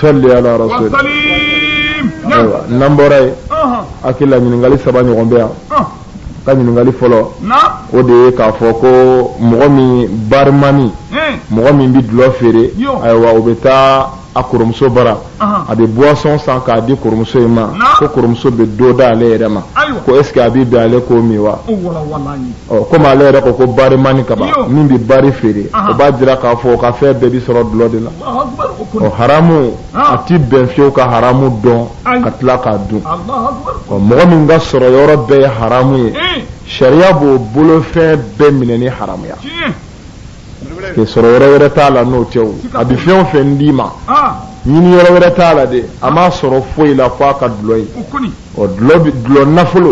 salli ala rasul ayiwa n'an bɔra yen hakili la ɲininkali saba ɲɔgɔn bɛ yan ka ɲininkali fɔlɔ o de ye k'a fɔ ko mɔgɔ min barimani mɔgɔ min bɛ dulɔ feere ayiwa o bɛ taa a kɔrɔmuso bara a bɛ boisson san k'a di kɔrɔmuso in ma ko kɔrɔmuso bɛ dɔ d'ale yɛrɛ ma ko est ce que a bɛ bɛn ale k'o min wa ɔ komi ale yɛrɛ ko ko barimani kaban min bɛ bari feere o b'a jira k'a fɔ o ka fɛn bɛɛ bɛ sɔrɔ dulɔ de la. haramu a tɛ bɛn fiyewu ka haramu dɔn ka tila k'a dun mɔgɔ min ka sɔrɔ yɔrɔ bɛɛ ye haramu ye eh. sariya b'o bolofɛn bɛɛ minɛ ni haramuya k'i sɔrɔ yɔrɔ wɛrɛ t'a la n'o tɛ o a bɛ fɛn o fɛn d'i ma ɲini yɔrɔ wɛrɛ t'a la dɛ a m'a sɔrɔ foyi la f'a ka dulɔ ye ɔ dulɔ nafolo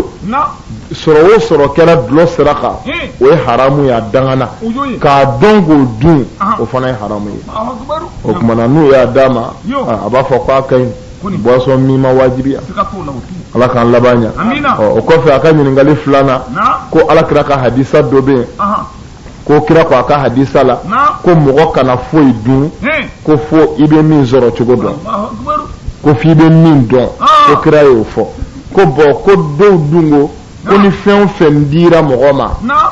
sɔrɔ o sɔrɔ kɛra dulɔ sira kan o ye haramu ye a dangana k'a dɔn k'o dun o fana ye haramu ye o tuma na n'u y'a d'a ma a b'a fɔ k'a ka ɲi boisson min ma wajibiya ala k'an laban ɲa o kɔfɛ a ka ɲininkali filanan ko ala kira ka hadisa dɔ bɛ yen ko kira ko a ka hadisa la ko mɔgɔ kana foyi dun ko fo i bɛ min sɔrɔ cogo dɔn ko f'i bɛ min dɔn ko kira y'o fɔ ko bɔn ko dɔw dun ko ko ni fɛn o fɛn dira mɔgɔ ma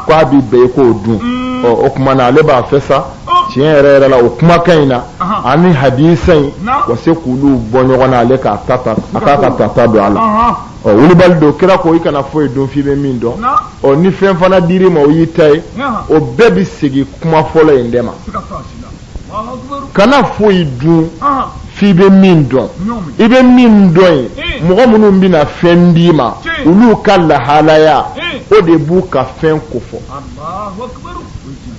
ko a bɛ bɛn i k'o dun mm. o tuma na ale b'a fɛ sa tiɲɛ yɛrɛ yɛrɛ la o kumakan in na ani hadisa in ka se k'olu bɔ ɲɔgɔn na ale k'a ta ta a k'a ka tata dɔn a la. ɔ wulibali don kira ko i kana foyi dun f'i bɛ min dɔn ɔ ni fɛn fana dir'i ma o y'i ta ye o bɛɛ bɛ segin kuma fɔlɔ in de ma kana foyi dun f'i bɛ min dɔn i bɛ min dɔn ye eh. mɔgɔ minnu bɛna fɛn d'i ma olu ka lahalaya eh. o de b'u ka fɛn kofɔ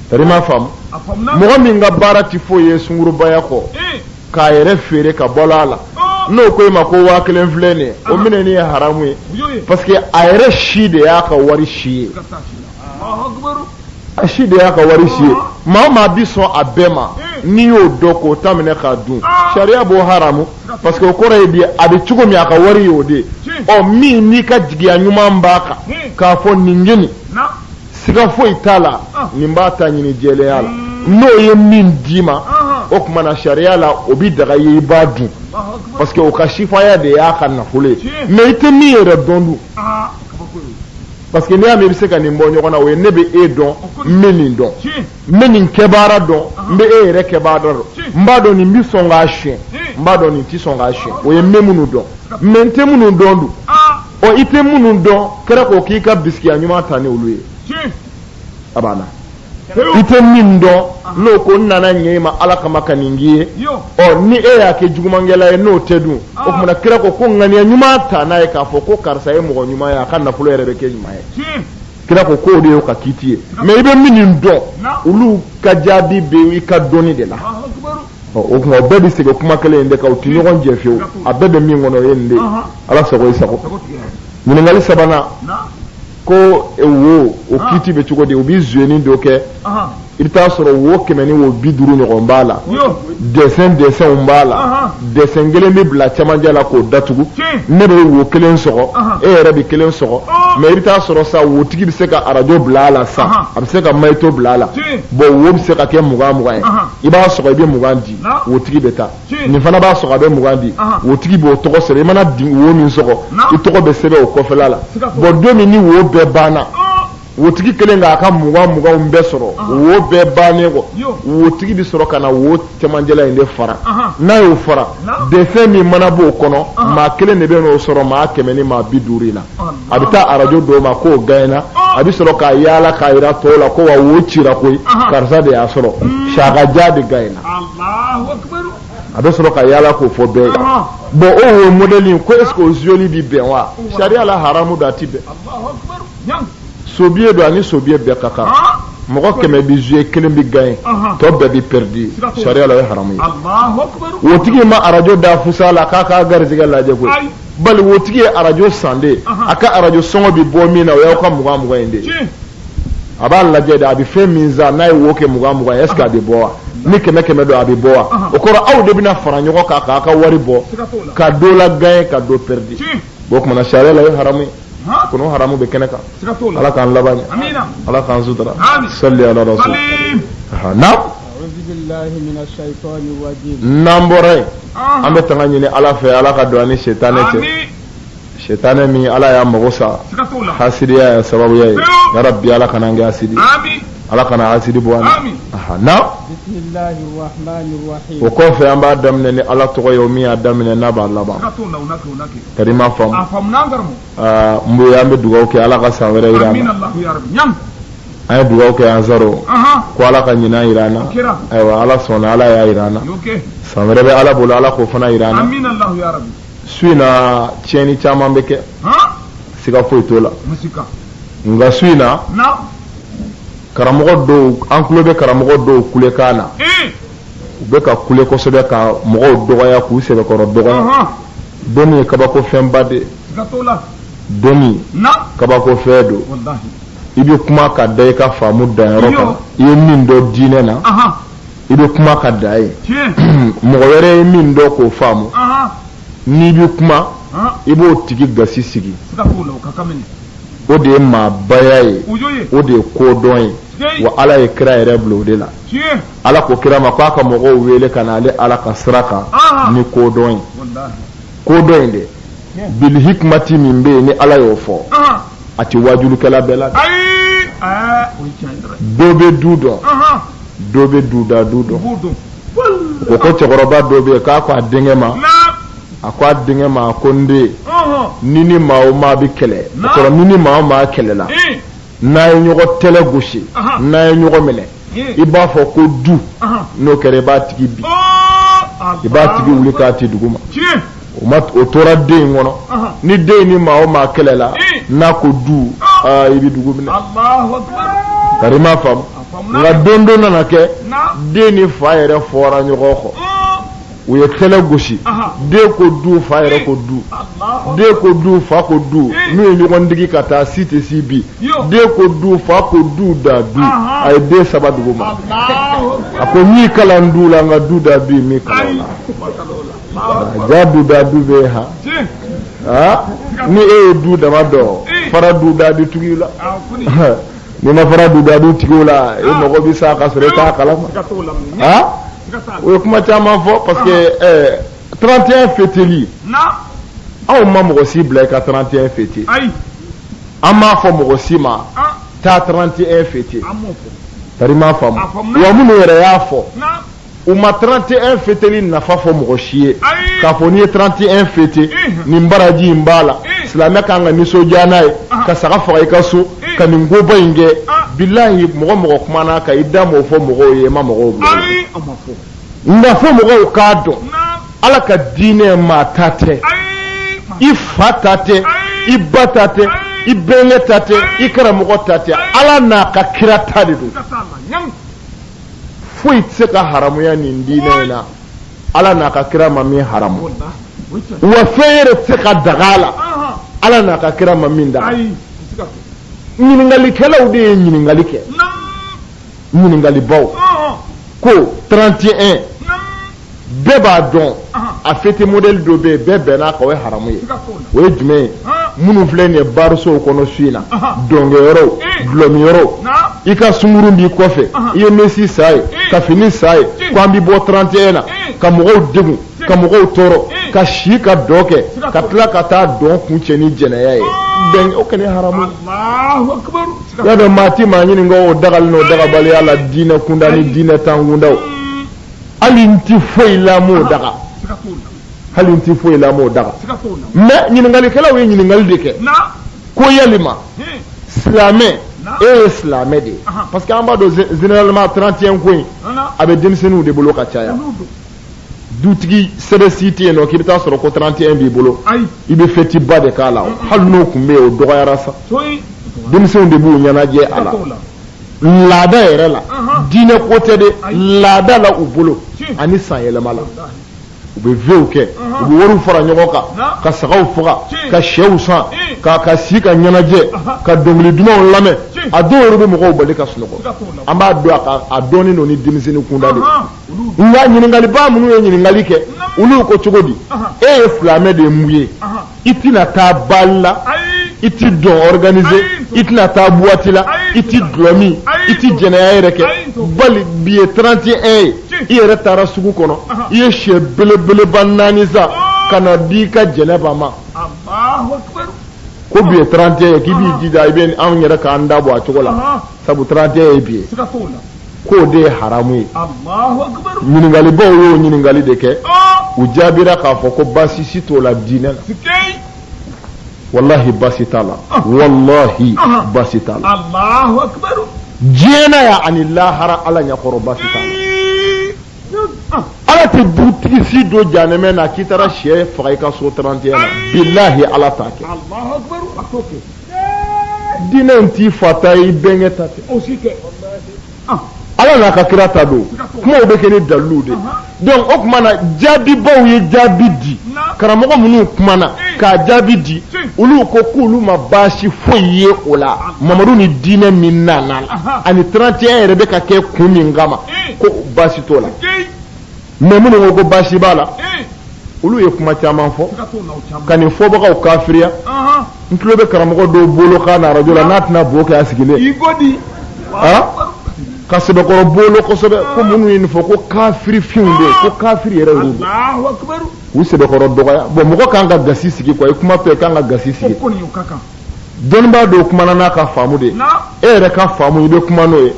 tari i m'a faamu mɔgɔ min ka baara tɛ foyi ye sungurubaya kɔ eh. k'a yɛrɛ feere ka bɔ a la n'o ko e ma ko waa kelen filɛ nin ye o minɛni ye haramu ye parce que a yɛrɛ si de y'a ka wari si ye a si de y'a ka wari si ye maa maa bi sɔn a bɛɛ ma n'i y'o dɔn k'o ta minɛ k'a dun sariya b'o haramu parce que o kɔrɔ ye di a bɛ cogo min a ka wari y'o de ye ɔ min n'i ka jigiya ɲuman b'a kan k'a fɔ nin kɔni siga foyi t'a la ah. nin b'a ta ɲini jɛlenya la hmm. n'o ye min d'i ma ah. o tuma na sariya la o bɛ daga ye i b'a dun parce que o ka sifaya de y'a ka nafolo ye mais i tɛ min yɛrɛ dɔn dun ah, parce que n'i y'a mɛn i bɛ se ka nin bɔ ɲɔgɔn na o ye ne bɛ e dɔn n bɛ nin dɔn n bɛ nin kɛbaara dɔn n bɛ e yɛrɛ kɛbaara dɔn n b'a dɔn nin bɛ sɔn k'a siyɛn n b'a dɔn nin tɛ sɔn k'a siyɛn o ye n bɛ minnu dɔn mais n tɛ minnu dɔn dun. ɔ i tɛ minnu dɔn kira ko k'i ka bisigiya ɲuman ta ni olu ye a banna i tɛ min dɔn n'o ko n nana ɲɛ i ma ala kama ka nin k'i ye ɔ ni e y'a kɛ jugumankɛla ye n'o tɛ dun o tuma na kira ko ko ŋaniya ɲuman ta n'a ye k'a fɔ ko karisa ye mɔgɔ ɲuman ye a ka nafolo yɛrɛ bɛ kɛ ɲuman ye kira ko k'o de y'o ka kiiti ye mɛ i bɛ min dɔn olu ka jaabi bɛ i ka dɔnni de la o kuma bɛɛ bɛ segin kuma kelen in de kan u tɛ ɲɔgɔn jɛ fiyewu a bɛɛ bɛ min kɔnɔ o ye nin de ye ala sago i sago ɲininkali sabanan ko e, wo o kiiti bɛ cogo di u bɛ zuyeni dɔ kɛ i bɛ taa sɔrɔ wo kɛmɛ ni wo bi duuru ɲɔgɔn b'a la dɛsɛn dɛsɛnw b'a la dɛsɛn kelen bɛ bila cɛmancɛ la k'o datugu ne bɛ wo kelen sɔgɔ e yɛrɛ bɛ kelen sɔgɔ mɛ i bɛ taa sɔrɔ sa wotigi bɛ se ka arajo bila a la sa a bɛ se ka mayito bila a la bɔn wo bɛ se ka kɛ mugan mugan ye i b'a sɔgɔ i bɛ mugan di wo tigi bɛ taa nin fana b'a sɔgɔ a bɛ mugan di wo tigi b'o tɔgɔ sɛbɛn i mana wo min sɔgɔ i tɔgɔ bɛ sɛbɛn o kɔfɛla la bɔn don min ni wo bɛɛ banna wo tigi kelen k'a ka mugan muganw bɛɛ sɔrɔ wo bɛɛ bannen kɔ wo tigi bɛ sɔrɔ ka na wo cɛmancɛla in de fara n'a y'o fara dɛsɛn min mana b'o kɔnɔ maa kelen de bɛn'o sɔrɔ maa kɛmɛ ni maa bi duuru in na a bɛ taa arajo d'o ma k'o gaɲena a bɛ sɔrɔ k'a yaala k'a jira tɔw la ko wa wo cira koyi karisa de y'a sɔrɔ mm. sagaja de gaɲena a bɛ sɔrɔ ka yaala k'o fɔ bɛɛ ye bɔn o wo mɔdɛli ko est-ce que o zuyeli bi bɛn wa sariya la haramu don a ti bɛn sobiye don ani sobiye bɛɛ ka kan mɔgɔ kɛmɛ bi zuye kelen bi gaɲe tɔ bɛɛ bi pɛridi sariya la o ye haramu ye wotigi ma arajo da fusa la k'a k'a garijɛgɛ lajɛ koyi bali wotigi ye arajo san de a ka arajo sɔngɔ bɛ bɔ min na o y'aw ka mugan mugan in de ye a b'a lajɛ de a bɛ fɛn min san n'a ye wo kɛ mugan mugan ye est-ce que a bɛ bɔ wa ni kɛmɛ kɛmɛ don a bɛ bɔ wa o kɔrɔ aw de bɛna fara ɲɔgɔn kan k'a ka wari bɔ ka dɔ lagaɲe ka dɔ pɛridi o kuma na sariya la o ye haramu ye kono haramu bɛ kɛnɛ kan ala k'an laban ɲɛ ala k'an sutura sali ala rasul naam n'an bɔra yen an bɛ tanga ɲini ala fɛ ala ka don an ni setanɛ cɛ setanɛ min ala y'a mago sa hasidiya y'a sababu ye ya rabi ala kan'an kɛ hasidi ala kana hasidi bɔ an na o kɔfɛ an b'a daminɛ ni ala tɔgɔ ye o min y'a daminɛ n'a b'a laban karima faamu n bonya an bɛ dugawu kɛ ala ka san wɛrɛ jira an na an ye dugawu kɛ salon ko ala ka ɲinan jira an na ayiwa ala sɔnna ala y'a jira an na san wɛrɛ bɛ ala bolo ala k'o fana jira an na su in na tiɲɛni caman bɛ kɛ siga foyi t'o la nka su in na karamɔgɔ dɔw an tulo bɛ karamɔgɔ dɔw kulekan na u bɛ ka kule kosɛbɛ ka mɔgɔw dɔgɔya k'u sɛbɛkɔrɔ dɔgɔya dɔnni ye kabako fɛnba de ye dɔnni kabako fɛn don i bɛ kuma ka da i ka faamu danyɔrɔ kan i ye min dɔn diinɛ na i bɛ kuma ka dan yen mɔgɔ wɛrɛ ye min dɔn k'o faamu n'i bɛ kuma i b'o tigi gasi sigi o de ye maabaya ye o de ye kodɔn ye wa ala ye kira yɛrɛ bila o de la ala ko kira ma k'a ka mɔgɔw wele ka na ale ala ka sira kan ni kodɔn ye kodɔn in de bilihikimati min bɛ yen ni ala y'o fɔ a tɛ wajulikɛla bɛɛ la dɔ bɛ du dɔn dɔ bɛ du da du dɔn o ko cɛkɔrɔba dɔ bɛ yen k'a ko a denkɛ ma a ko a denkɛ ma a ko n den n'i ni maa o maa bɛ kɛlɛ o kɔrɔ n'i ni maa o maa kɛlɛla n'a ye ɲɔgɔn tɛlɛ gosi n'a ye ɲɔgɔn minɛ i b'a fɔ ko du n'o kɛra i b'a tigi bin i b'a tigi wuli k'a ti dugu ma o tora den in kɔnɔ ni den ni maa o maa kɛlɛla n'a ko du aa i bɛ dugu minɛ tari i m'a faamu nka don dɔ nana kɛ den ni fa yɛrɛ fɔra ɲɔgɔn kɔ u ye tɛlɛ gosi den ko du fa yɛrɛ ko du den ko du fa ko du n'u ye ɲɔgɔn digi ka taa si tɛ si bin den ko du fa ko du da du a ye den saba dugu ma a ko n y'i kalan du la nka du da du ne m'i kalan a la jaa du da du bɛ ha ni e ye du dama dɔn fara du da du tigiw la n'i ma fara du da du tigiw la e mago bɛ sa ka sɔrɔ e t'a kalama ha o ye kuma caman fɔ parce que 31 fêteli anw ma mɔgɔ si bila i ka 31 fêter an m'a fɔ mɔgɔ si ma taa 31 fêter tari i m'a faamu wa minnu yɛrɛ y'a fɔ u ma 31 fêteli nafa fɔ mɔgɔ si ye k'a fɔ n'i ye 31 fêter nin baraji in b'a la silamɛ ka kan ka nisɔndiya n'a ye ka saga faga i ka so ka nin koba in kɛ bilahi mɔgɔ o mɔgɔ kumana ka i da m'o fɔ mɔgɔw ye i ma mɔgɔw bila nka fo mɔgɔw k'a dɔn ala ka diinɛ maa ta tɛ i fa ta tɛ i ba ta tɛ i bɛnkɛ ta tɛ i karamɔgɔ ta tɛ ala n'a ka kira ta de don foyi tɛ se ka haramuya nin diinɛ in na ala n'a ka kira ma min haramu wa fɛn yɛrɛ tɛ se ka daga a la ala n'a ka kira ma min daga ɲininkalikɛlaw de ye ɲininkali kɛ ɲininkalibaw ko 31 bɛɛ b'a dɔn a fêter modèle dɔ bɛ yen bɛɛ bɛnn'a kan o ye haramu ye o ye jumɛn ye minnu filɛ nin ye barisow kɔnɔ su in na dɔnkɛyɔrɔw dulɔminyɔrɔw i ka sunguru b'i kɔfɛ i ye mɛsi san a ye ka fini san a ye ko an bɛ bɔ 31 na ka mɔgɔw degun ka mɔgɔw tɔɔrɔ ka si ka dɔn kɛ ka tila ka taa dɔn kuncɛ ni jɛnɛya ye bɛɛ b'o kɛlen haramuya dɔn maa ti maa ɲininka o dagali n'o dagabaliya la diinɛ kunda ni diinɛntan kundaw hali n tɛ foyi la m'o daga hali n tɛ foyi la m'o daga mais ɲininkalikɛlaw ye ɲininkali de kɛ ko yalima silamɛ e ye silamɛ de ye parce que an b'a dɔn généralement 31 ko in a bɛ denmisɛnninw de bolo ka caya dutigi sɛbɛ si tɛ yen nɔ k'i bɛ taa sɔrɔ ko 31 b'i bolo i bɛ fɛtiba de k'a la hali n'o tun bɛ yen o dɔgɔyara sa denmisɛnw de b'u ɲɛnajɛ a la laada yɛrɛ la diinɛ ko tɛ de laada la u bolo ani san yɛlɛma la u bɛ vœux kɛ u bɛ wariw fara ɲɔgɔn kan ka sagaw faga ka sɛw san ka si ka ɲɛnajɛ ka dɔnkili dumanw lamɛn a dɔw yɛrɛ bɛ mɔgɔw bali ka sunɔgɔ an b'a dɔn a dɔnnen don ni denmisɛnnin kunda de nka ɲininkaliba minnu ye ɲininkali kɛ olu ko cogo di e ye silamɛ de ye mun ye i tɛna taa bal la i tɛ dɔn organiser i tɛna taa boîte la i tɛ dulɔ min i tɛ jɛnɛya yɛrɛ kɛ bali bi ye 31 ye i yɛrɛ taara sugu kɔnɔ i ye sɛ belebeleba naani san ka n'a di i ka jɛnɛba ma ko bi ye 31 ye k'i b'i jija i bɛ anw yɛrɛ k'an da bɔ a cogo la sabu 31 ye bi ye. k'o de ye haramu ye ɲininkalibaw y'o ɲininkali de kɛ u jaabira k'a fɔ ko baasi si t'o la diinɛ la walahi baasi t'a la walahi baasi t'a la diɲɛ na yan ani lahara ala ɲɛkɔrɔ baasi t'a la ala tɛ dutigi si don jahanɛmɛ na k'i taara sɛ faga i ka so 31 na bilahi ala t'a kɛ diinɛ in t'i fa ta ye i bɛnkɛ ta tɛ ah. ala n'a ka kira ta don kumaw bɛ kɛ ni dalilu de donc o tuma na jaabibaw ye jaabi di karamɔgɔ minnu kumana eh. k'a jaabi di olu ko k'olu ma baasi foyi ye o la ah. mamadu ni diinɛ min nana ani 31 yɛrɛ bɛ ka kɛ kun min kama eh. ko baasi t'o la mais minnu ko ko baasi b'a la olu ye kuma caman fɔ ka nin fɔbagaw kafiriya n tulo bɛ karamɔgɔ dɔw bolo k'a na arajo la n'a tɛna bo kɛ a sigilen ka sɛbɛkɔrɔ bolo kosɛbɛ ko minnu ye nin fɔ ko kafiri finw de ko kafiri yɛrɛ y'u bɛ u sɛbɛkɔrɔ dɔgɔya bon mɔgɔ kan ka gasi sigi quoi i kuma fɛ kan ka gasi sigi dɔnnibaa dɔw kumana n'a ka faamu de ye e yɛrɛ ka faamu i bɛ kuma n'o ye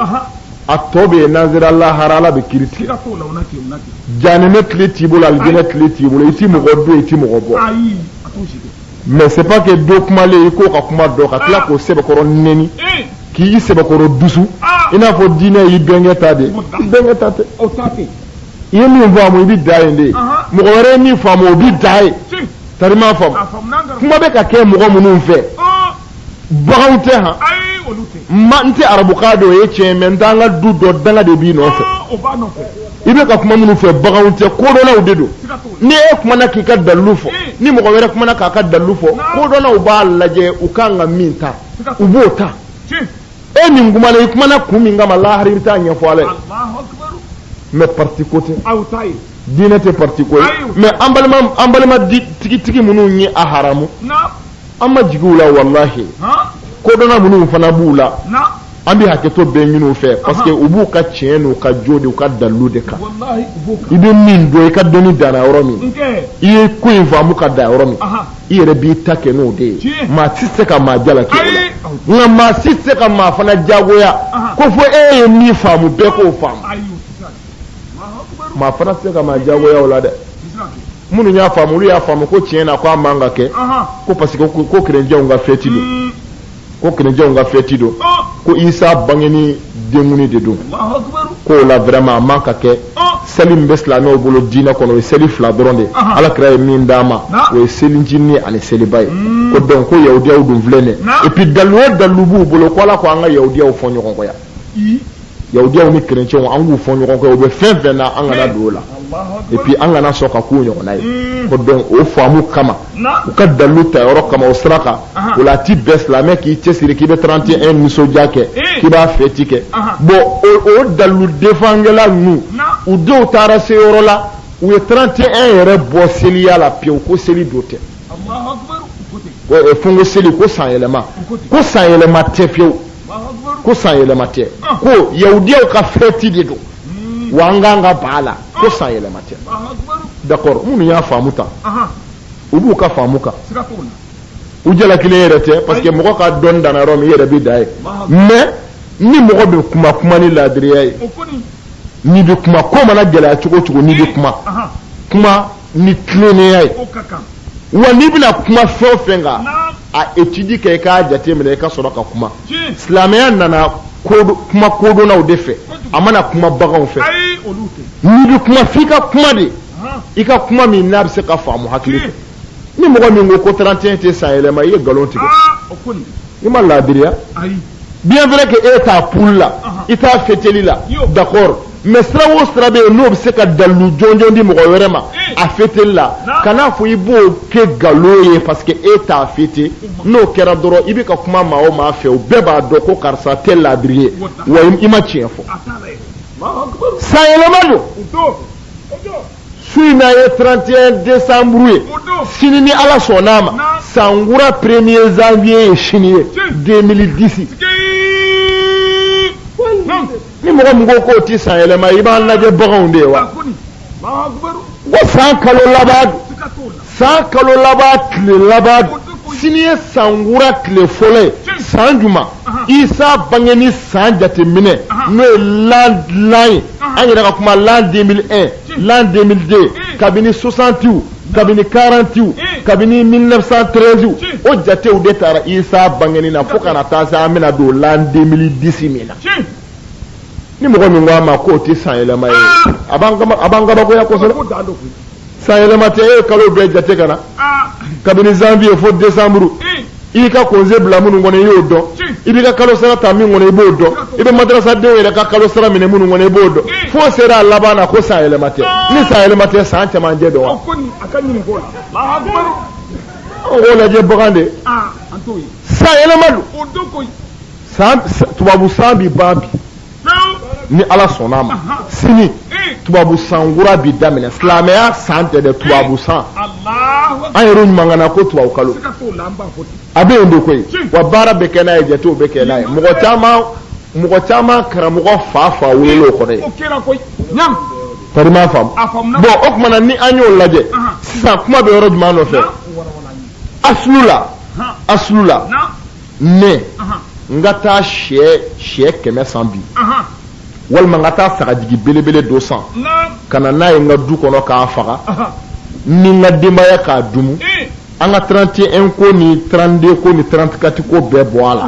a tɔ bɛ yen n'an sera lahara ala bɛ kiri tigɛ jahanɛmɛ kile t'i bolo alijinɛ kile t'i bolo i ti mɔgɔ don i ti mɔgɔ bɔ mais c'est pas que dɔ kumalen i k'o ka kuma dɔn ka tila k'o sɛbɛkɔrɔ nɛni k'i sɛbɛkɔrɔ dusu i n'a fɔ diinɛ y'i bɛnkɛ ta de i bɛnkɛ ta tɛ i ye min faamu i bɛ dan yen de mɔgɔ wɛrɛ ye min faamu o bɛ dan yen tari m'a faamu kuma bɛ ka kɛ mɔgɔ minnu fɛ baganw tɛ han ma n tɛ arabukan dɔn o ye tiɲɛ mais n t'an ka du dɔ danga de b'i nɔfɛ i bɛ ka kuma minnu fɛ baganw tɛ kodɔnnaw de don ni e kumana k'i ka dalilu fɔ ni mɔgɔ wɛrɛ kumana k'a ka dalilu fɔ kodɔnnaw b'a lajɛ u kan ka min ta u b'o ta e min kumana i kumana kun min kama lahara i bɛ taa ɲɛfɔ ala ye mais parti ko tɛ diinɛ tɛ parti ko ye mais an balima an balima tigitigi minnu ye a haramu an ma jigin u la walahi kodɔnna minnu fana b'u la an bɛ hakɛto bɛɛ ɲini u fɛ parce que u b'u ka tiɲɛ n'u ka jo de u ka dalilu de kan i bɛ min dɔn i ka dɔnni danna yɔrɔ min i ye ko in faamu ka dan yɔrɔ min i yɛrɛ b'i ta kɛ n'o de ye maa si tɛ se ka maa jalaki o la nka maa si tɛ se ka maa fana jagoya ko fo e ye min faamu bɛɛ k'o faamu maa fana tɛ se ka maa jagoya o la dɛ minnu y'a faamu olu y'a faamu ko tiɲɛ na ko a man ka kɛ ko parce que ko kerecɛnw ka fɛti don hmm. ko kerecɛnw ka fɛti don oh. ko isa bangeni denkundi de don ko o la vraiment a man ka kɛ oh. seli min bɛ silamɛw bolo diinɛ kɔnɔ o ye seli fila dɔrɔn de ala kira ye min d'an ma o ye selicinin ani seliba ye hmm. ko donc ko yahudiyaw dun filɛ nin ye et puis dalilu o dalilu b'u bolo ko ala ko an ka yahudiyaw fɔ ɲɔgɔn kɔ yan yahudiyaw ni kerecɛnw an k'u fɔ ɲɔgɔn kɔ u bɛ fɛn fɛn na an kana don o la et puis an kana sɔn ka k'u ɲɔgɔnna ye hmm. ko donc o faamu kama u ka dalilu ta yɔrɔ kama o sira kan o la a ti bɛn silamɛ k'i cɛsiri k'i bɛ 31 nisɔndiya kɛ eh. k'i b'a fɛti kɛ bon o dalilu defangɛla ninnu u denw taara se yɔrɔ la u ye 31 yɛrɛ bɔ seliya la pewu ko seli don tɛ fo ko seli ko sanyɛlɛma ko sanyɛlɛma tɛ pewu ko san yɛlɛma tɛ ko yahudiyaw ka fɛti de don wa an k'an ka baa la ko san yɛlɛma tɛ d'accord minnu y'a faamu tan u b'u ka faamu kan u jalakilen yɛrɛ tɛ parce que mɔgɔ ka dɔn danna yɔrɔ min i yɛrɛ bɛ dan yen mais ni mɔgɔ bɛ kuma kuma ni laadiriya ye n'i bɛ kuma ko mana gɛlɛya cogo cogo n'i bɛ kuma kuma ni tilennenya ye wa n'i bɛna kuma fɛn o fɛn kan a étude kɛ i k'a jateminɛ i ka sɔrɔ ka kuma silamɛya nana kuma kodɔnnaw de fɛ a ma na kuma baganw fɛ n'i bɛ kuma f'i ka kuma de i ka kuma min n'a bɛ se ka faamu hakili fɛ ni mɔgɔ min ko ko 31 tɛ san yɛlɛma i ye nkalon tigɛ i ma laadiriya bien vrai que e t'a pour la i t'a fêteli la d'accord mais sira o sira bɛ yen n'o bɛ se ka dalilu jɔnjɔn di mɔgɔ wɛrɛ ma a fêteli la kan'a fɔ i b'o kɛ nkalon ye parce que e t'a fêté n'o kɛra dɔrɔn i bɛ ka kuma maa o maa fɛ o bɛɛ b'a dɔn ko karisa tɛ laadiri ye wa i ma tiɲɛ fɔ san yɛlɛma don su in na ye 31 décembre ye sini ni ala sɔnn'a ma san kura premier janvier ye sini ye 2010 ni mɔgɔ min ko k'o ti san yɛlɛma i b'an lajɛ baganw de ye wa ko san kalo laban san kalo laban tile laban don sini ye san kura tile fɔlɔ ye san juma isa bangeni san jateminɛ n'o ye l'an l'an ye an yɛrɛ ka kuma l'an 2001 l'an 2002 kabini 60 kabini 40 kabini 1913 o jatew de taara isa bangeni na fo ka na taa se an bɛna don l'an 2010 min na ni mɔgɔ min ko a ma k'o tɛ san yɛlɛma ye a b'an kabakoya kosɛbɛ san yɛlɛma tɛ e ye kalo bɛɛ jate ka na kabini janvier fo décembre i ka congé bila minnu kɔnɔ i y'o dɔn i b'i ka kalo sara ta min kɔnɔ i b'o dɔn i bɛ madarasadenw yɛrɛ ka kalo sara minɛ minnu kɔnɔ i b'o dɔn fo sera a laban na ko san yɛlɛma tɛ ni san yɛlɛma tɛ san cɛmancɛ don wa o lajɛ bagan de san yɛlɛma don tubabu san bɛ ban bi ni ala sɔnn'a ma sini tubabu san kura bi daminɛ silamɛya san tɛ dɛ tubabu san an yɛrɛ ɲumangana ko tubabu kalo a bɛ yen de koyi wa baara bɛ kɛ n'a ye jatew bɛ kɛ n'a ye mɔgɔ caman mɔgɔ caman karamɔgɔ fa fa wolo o kɔrɔ ye kɔni m'a faamu bon o tuma na ni an y'o lajɛ sisan kuma bɛ yɔrɔ jumɛn nɔfɛ asulu la asulu la ne n ka taa sɛ sɛ kɛmɛ san bi walima n ka taa sagajigi belebele dɔ san ka na n'a ye n ka du kɔnɔ k'a faga ni n ka denbaya k'a dumu an ka 31 ko ni 32 ko ni 34 ko bɛɛ bɔ a la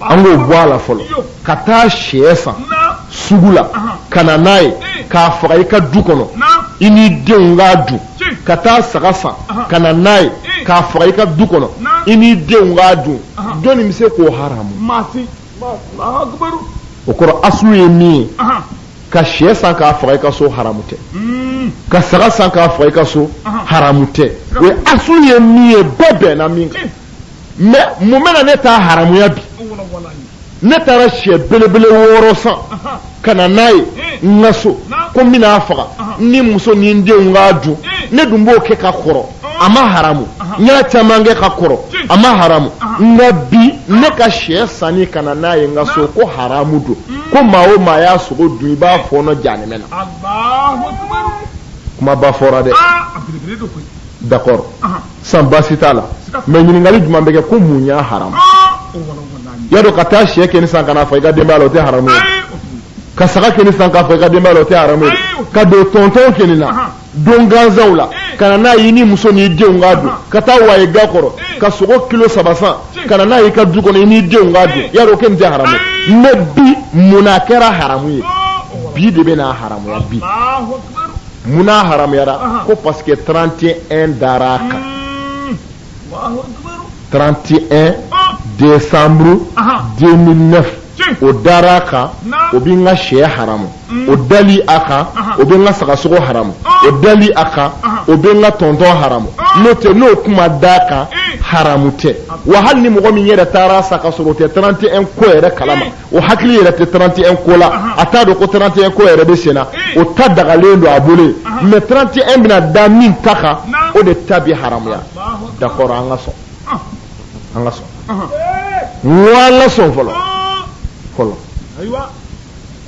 an k'o bɔ a la fɔlɔ ka taa sɛ san sugu la ka na n'a ye k'a faga i ka du kɔnɔ i n'i denw k'a dun ka taa saga san ka na n'a ye k'a faga i ka du kɔnɔ i n'i denw k'a dun jɔnni bɛ se k'o haramu o kɔrɔ asulu ye min ye ka sɛ san k'a faga i ka so haramu tɛ hmm. ka saga san k'a faga i ka so haramu tɛ o ye asulu ye min ye bɛɛ bɛnna min kan mais mun bɛna ne ta haramuya bi ne taara sɛ belebele wɔɔrɔ san ka na n'a ye n ka so ko n bɛn'a faga ni muso ni n denw k'a dun ne dun b'o kɛ ka kɔrɔ a ma haramu n y'a caman kɛ ka kɔrɔ a ma haramu nka bi ne ka sɛ sanni ka na n'a ye n ka so ko haramu don ko maa o maa y'a sogo dun i b'a fɔɔnɔ jahanɛmɛ na kumaba fɔra dɛ d'accord san baasi t'a la mais ɲininkali jumɛn bɛ kɛ ko mun y'a haramu y'a dɔn ka taa sɛ kɔni san ka n'a faga i ka denbaya la o tɛ haramu ye ka saga kɔni san k'a faga i ka denbaya la o tɛ haramu ye ka don tɔntɔn kɔni na don gansanw la ka na n'a ye n'i muso n'i denw k'a dun ka taa waye ga kɔrɔ ka sogo kilo saba san ka na n'a ye i ka du kɔnɔ i n'i denw k'a dun y'a dɔn o kɔni tɛ haramu ye mais bi mun na a kɛra haramu ye bi de bɛn'a haramuya bi mun na a haramuyara ko parce que 31 dara a kan 31 décembre 2009 o dara a kan o bɛ n ka shɛ haramu o dali a kan o bɛ n ka sagasogo haramu o dali a kan o bɛ n ka tɔntɔn haramu n'o tɛ n'o tun ma da a kan haramu tɛ wa hali ni mɔgɔ min yɛrɛ taara a san ka sɔrɔ o tɛ 31 ko yɛrɛ kalama o hakili yɛrɛ tɛ 31 ko la a t'a dɔn ko 31 ko yɛrɛ bɛ senna o ta dagalen don a bolo yen mais 31 bɛna da min ta kan o de ta bɛ haramuya d'accord an ka sɔn ah. an ka sɔn wala sɔn fɔlɔ ah. fɔlɔ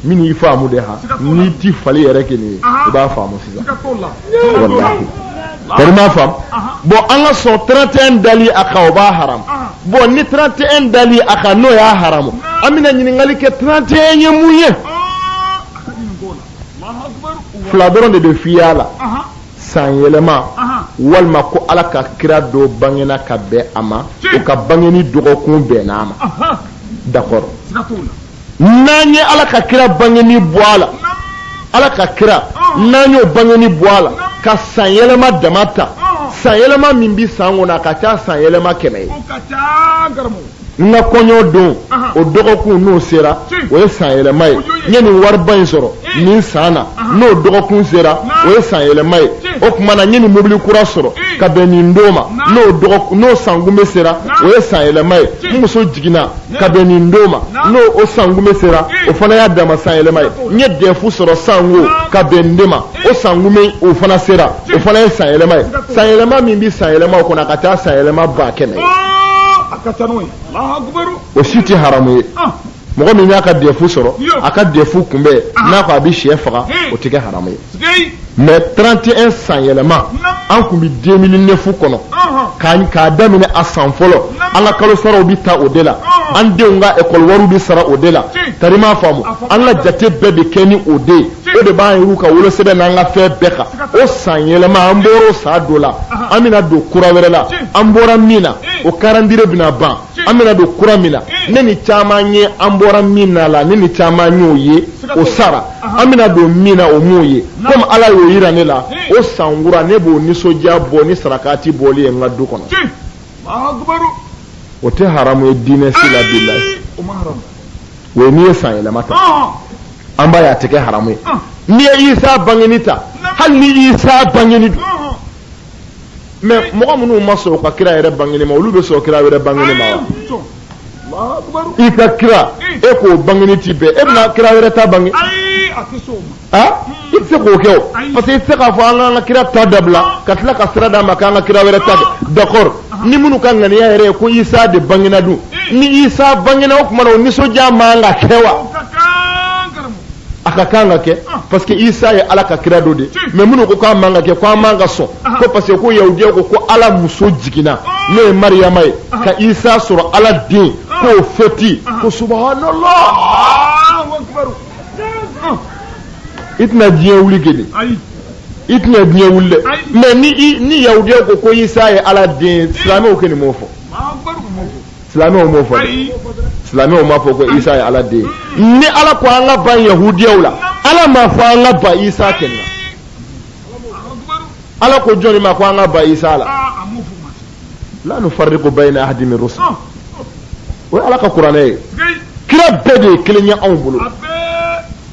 min y'i faamu de ha n'i tɛ fali yɛrɛ kɔni ye i b'a faamu sisan walahi bari ma faamu bon an ka sɔn 31 dali a kan o b'a haramu bon ni 31 dali a kan n'o y'a haramu an bɛna ɲininkali kɛ 31 ye mun ye fila dɔrɔn de bɛ f'i y'a la san yɛlɛma walima ko ala ka kira dɔ bangena ka bɛn a ma o ka bangeni dɔgɔkun bɛnna a ma d'accord n'an ye ala ka kira bangeni bɔ a la ala ka kira n'an y'o bangeni bɔ a la ka san yɛlɛma dama ta san yɛlɛma min bɛ san kɔnɔ a ka ca san yɛlɛma kɛmɛ ye n ka kɔɲɔ don o dɔgɔkun n'o sera o ye san yɛlɛma ye n ye nin wariba in sɔrɔ nin san na n'o dɔgɔkun sera o ye san yɛlɛma ye o tuma na n ye nin mobili kura sɔrɔ ka bɛn nin don ma n'o n'o sankunbɛn sera o ye san yɛlɛma ye n muso jiginna ka bɛn nin don ma n'o o sankunbɛn sera o fana y'a dama san yɛlɛma ye n ye dɛfu sɔrɔ sanko ka bɛn nin don ma o sankunbɛn o fana sera o fana ye san yɛlɛma ye san yɛlɛma min bɛ san yɛlɛma o kɔnɔ a ka ca san yɛlɛma ba kɛmɛ o si tɛ haramu ye mɔgɔ min y'a ka dɛfu sɔrɔ a ka dɛfu kunbɛn n'a ko a bɛ sɛ faga o tɛ kɛ haramu ye mais trente et un san yɛlɛma an tun bɛ deux mille neuf kɔnɔ k'a daminɛ a san fɔlɔ an ka kalo saraw bɛ taa o de la an denw ka ekɔli wari bɛ sara o de la tari m'a faamu an ka jate bɛɛ bɛ kɛ ni o de ye o de b'an yɛrɛw ka wolosɛbɛn n'an ka fɛn bɛɛ kan o san yɛlɛma an bɔra o san dɔ la an bɛna don kura wɛrɛ la an bɔra min na o calendrier bɛna ban an bɛna don kura min na ne ni caman ye an bɔra min na la ne ni caman y'o ye o sara an bɛna don min na o m'o ye komi ala y'o yira ne la o san kura ne b'o nisɔndiya bɔ ni sarakati bɔli ye n ka du kɔnɔ o tɛ haramu ye diinɛ si la bilahi o ye n'i ye san yɛlɛma ta an b'a ye a tɛ kɛ haramu ye n'i ye isa bangeni ta hali ni isa bangeni don mais mɔgɔ minnu ma sɔn ka kira yɛrɛ bangeni ma olu bɛ sɔn kira wɛrɛ bangeni ma wa i ka kira e k'o bangeni ti bɛn e bɛna kira wɛrɛ ta bange a i tɛ se k'o kɛ o parce que i tɛ se k'a fɔ an k'an ka kira ta dabila ka tila ka sira d'a ma k'an ka kira wɛrɛ ta d'accord ni minnu ka ŋaniya yɛrɛ ye ko isa de bangena dun ni isa bangena o tuma na o nisɔndiya man kan ka kɛ wa a ka kan ka kɛ ah. parce que isa ye ala ka kira dɔ de mais minnu ko k'a man ka kɛ ko an man ka sɔn ah. ko parce que ko yahudiya ko ko ala muso jiginna ah. n'o ye mariyama ye ka isa sɔrɔ ala den k'o fɛti ko subhanallah i tɛna diɲɛ wuli kɛ i tɛna diɲɛ wuli dɛ mais ni ni yahudiya ko ko isa ye ala den silamɛw kɔni m'o fɔ silamɛw m'o fɔ dɛ silamɛw m'a fɔ ko isa ye ala den ye mm. ni ala ko an ka ban yahudiyaw la ala m'a fɔ an ka ban isa kɛlɛ ala ko jɔnni ma ko an ka ban isa la ah, la nufarriqu bayna ahadin min rusulihi ah. o ye ala ka kuranɛ ye kira bɛɛ de ye kelen ye anw bolo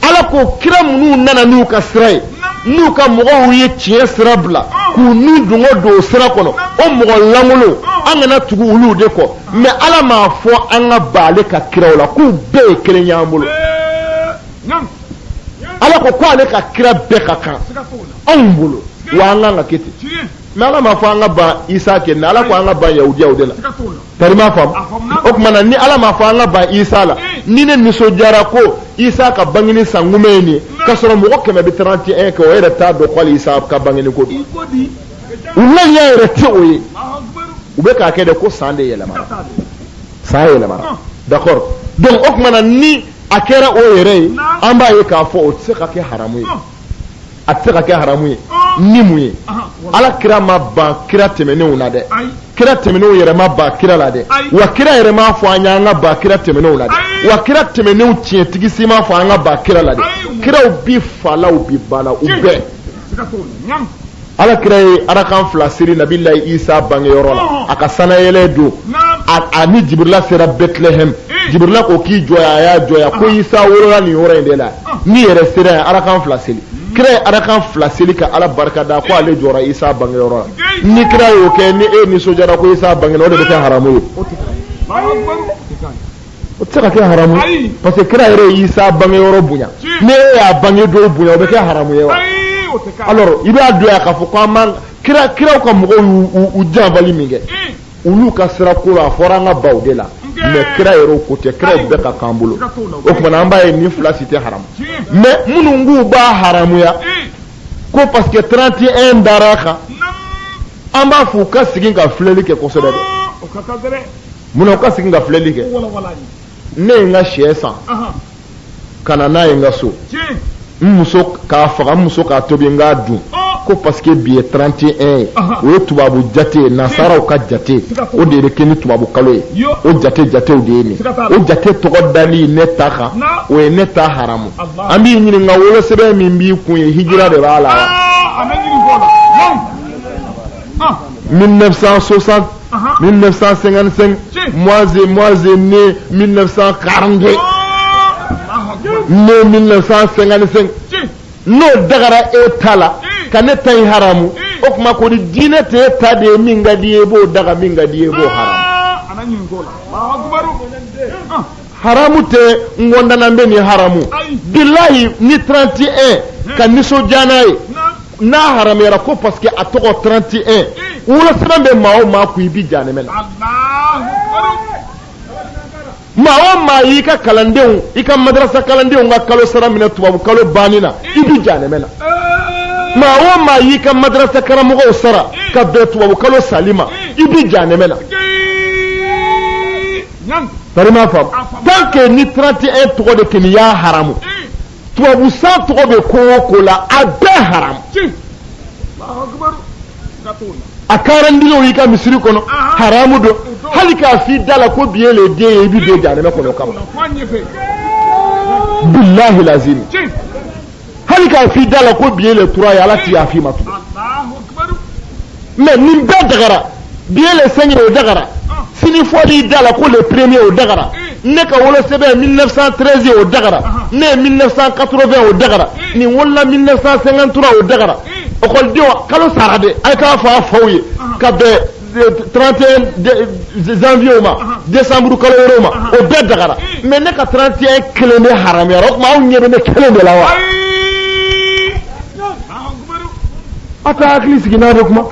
ala ko kira minnu nana n'u ka sira ye n'u ka mɔgɔw ye tiɲɛ sira bila k'u n'u dungo don o sira kɔnɔ o mɔgɔ lankolonw an kana tugu olu de kɔ mais ala m'a fɔ an ka ban ale ka kiraw la k'u bɛɛ ye kelen y'an bolo ala ko ko ale ka kira bɛɛ ka kan anw bolo wa an kan ka kɛ ten mais ala m'a fɔ an ka ban isa kɛ mais ala ko an ka ban yahudiyaw de la tari m'a faamu o tuma na ni ala m'a fɔ an ka ban isa la ni ne nisɔndiyara ko isa ka bangini san kunbɛn ye nin ye k'a sɔrɔ mɔgɔ kɛmɛ bɛ 31 kɛ o yɛrɛ t'a dɔn ko hali isa ka bangini ko don u laɲini yɛrɛ tɛ o ye u bɛ k'a kɛ de ko san de yɛlɛmara san yɛlɛmara ah. d'accord donc o tuma na ni a kɛra o yɛrɛ ye an b'a ye k'a fɔ o tɛ se ka kɛ haramu ye ah. a tɛ se ka kɛ haramu ye ni mun ye ala kira ma ban kira tɛmɛnenw na dɛ kira tɛmɛnenw yɛrɛ ma ban kira la dɛ wa kira yɛrɛ m'a fɔ an y'an ka ban kira tɛmɛnenw la dɛ wa kira tɛmɛnenw tiɲɛtigi si m'a fɔ an ka ban kira la dɛ kiraw bi fa la u bi ba la u bɛɛ ala kira ye arakan fila seli nabila isa bangeyɔrɔ la a ka sanayɛlɛ don a ni jibrila sera bɛtilɛhɛm jibrila ko k'i jɔ yan a y'a jɔ yan ko isa wolola nin yɔrɔ in de la n'i yɛrɛ sera yan arakan fila seli kira ye arakan fila seli ka ala barika da ko ale jɔra isa bangeyɔrɔ la ni kira y'o kɛ ni e nisɔndiyara ko isa bangena o de bɛ kɛ haramu ye o tɛ se ka kɛ haramu ye parce que kira yɛrɛ ye Isa bange yɔrɔ bonya ni e y'a bange don bonya o bɛ kɛ haramu ye wa alors i b'a dɔn yan k'a fɔ ko an b'an kira kiraw ka mɔgɔw y'u u janfali min kɛ olu ka sira ko la a fɔra an ka ban u de la mais kira yɛrɛ o ko tɛ kiraw bɛɛ ka kan an bolo o tuma na an b'a ye nin fila si tɛ haramu mais minnu k'u b'a haramuya ko parce que 31 dara a kan an b'a fɔ u ka segin ka filɛli kɛ kosɛbɛ dɛ munna u ka segin ka filɛli kɛ ne ye n ka sɛ san ka na n'a ye n ka so n muso k'a faga n muso k'a tobi n k'a dun ko parce que bi ye 31 ye o ye tubabu jate ye nasaraw ka jate o de bɛ kɛ ni tubabu kalo ye o jate jatew de ye nin o jate tɔgɔ dali ne ta kan o ye ne ta haramu an b'i ɲininka wolosɛbɛn min b'i kun ye hijira de b'a la wa 1960 1955 moi je moi je né 1942 né 1955 n'o dagara e ta la ka ne ta in haramu o tuma kɔni diinɛ tɛ e ta de ye min ka d'i ye i b'o daga min ka d'i ye i b'o haramu haramu tɛ n kɔndanan bɛ ni haramu bilahi ni 31 ka nisɔndiya n'a ye n'a haramuyara ko parce que a tɔgɔ 31 wolosɛbɛn bɛ maa o maa kun i bi jahanɛmɛ la maa o maa y'i ka kalandenw i ka madarasa kalandenw ka kalo sara minɛ tubabu kalo banni na i bi jahanɛmɛ la maa o maa y'i ka madarasa karamɔgɔw sara ka bɛn tubabu kalo sali ma i bi jahanɛmɛ la que ni 31 tɔgɔ de kɛni y'a haramu tubabu san tɔgɔ bɛ ko o ko la a bɛɛ haramu a calendrier i ka misiri kɔnɔ haramu don hali k'a f'i da la ko bi ye le 2 ye i bɛ don jahanɛmɛ kɔnɔ kama bilahi lazim hali k'a f'i da la ko bi ye le 3 ye ala ti yaf'i ma tugun mais nin bɛɛ dagara bi ye le 5 o dagara sini fɔl'i da la ko le premier o dagara ne ka wolosɛbɛn 1913 ye o dagara ne ye 1980 o dagara nin wolola 1953 o dagara ekɔlidenw kalo sara de a k'a fɔ a faw ye ka bɛn 31 janvier ma décembre kalo wɛrɛw ma o bɛɛ dagara mais ne ka 31 kelen de haramuyara o tuma aw ɲɛ bɛ ne kelen de la wa a t'a hakili sigi n'a bɛ kuma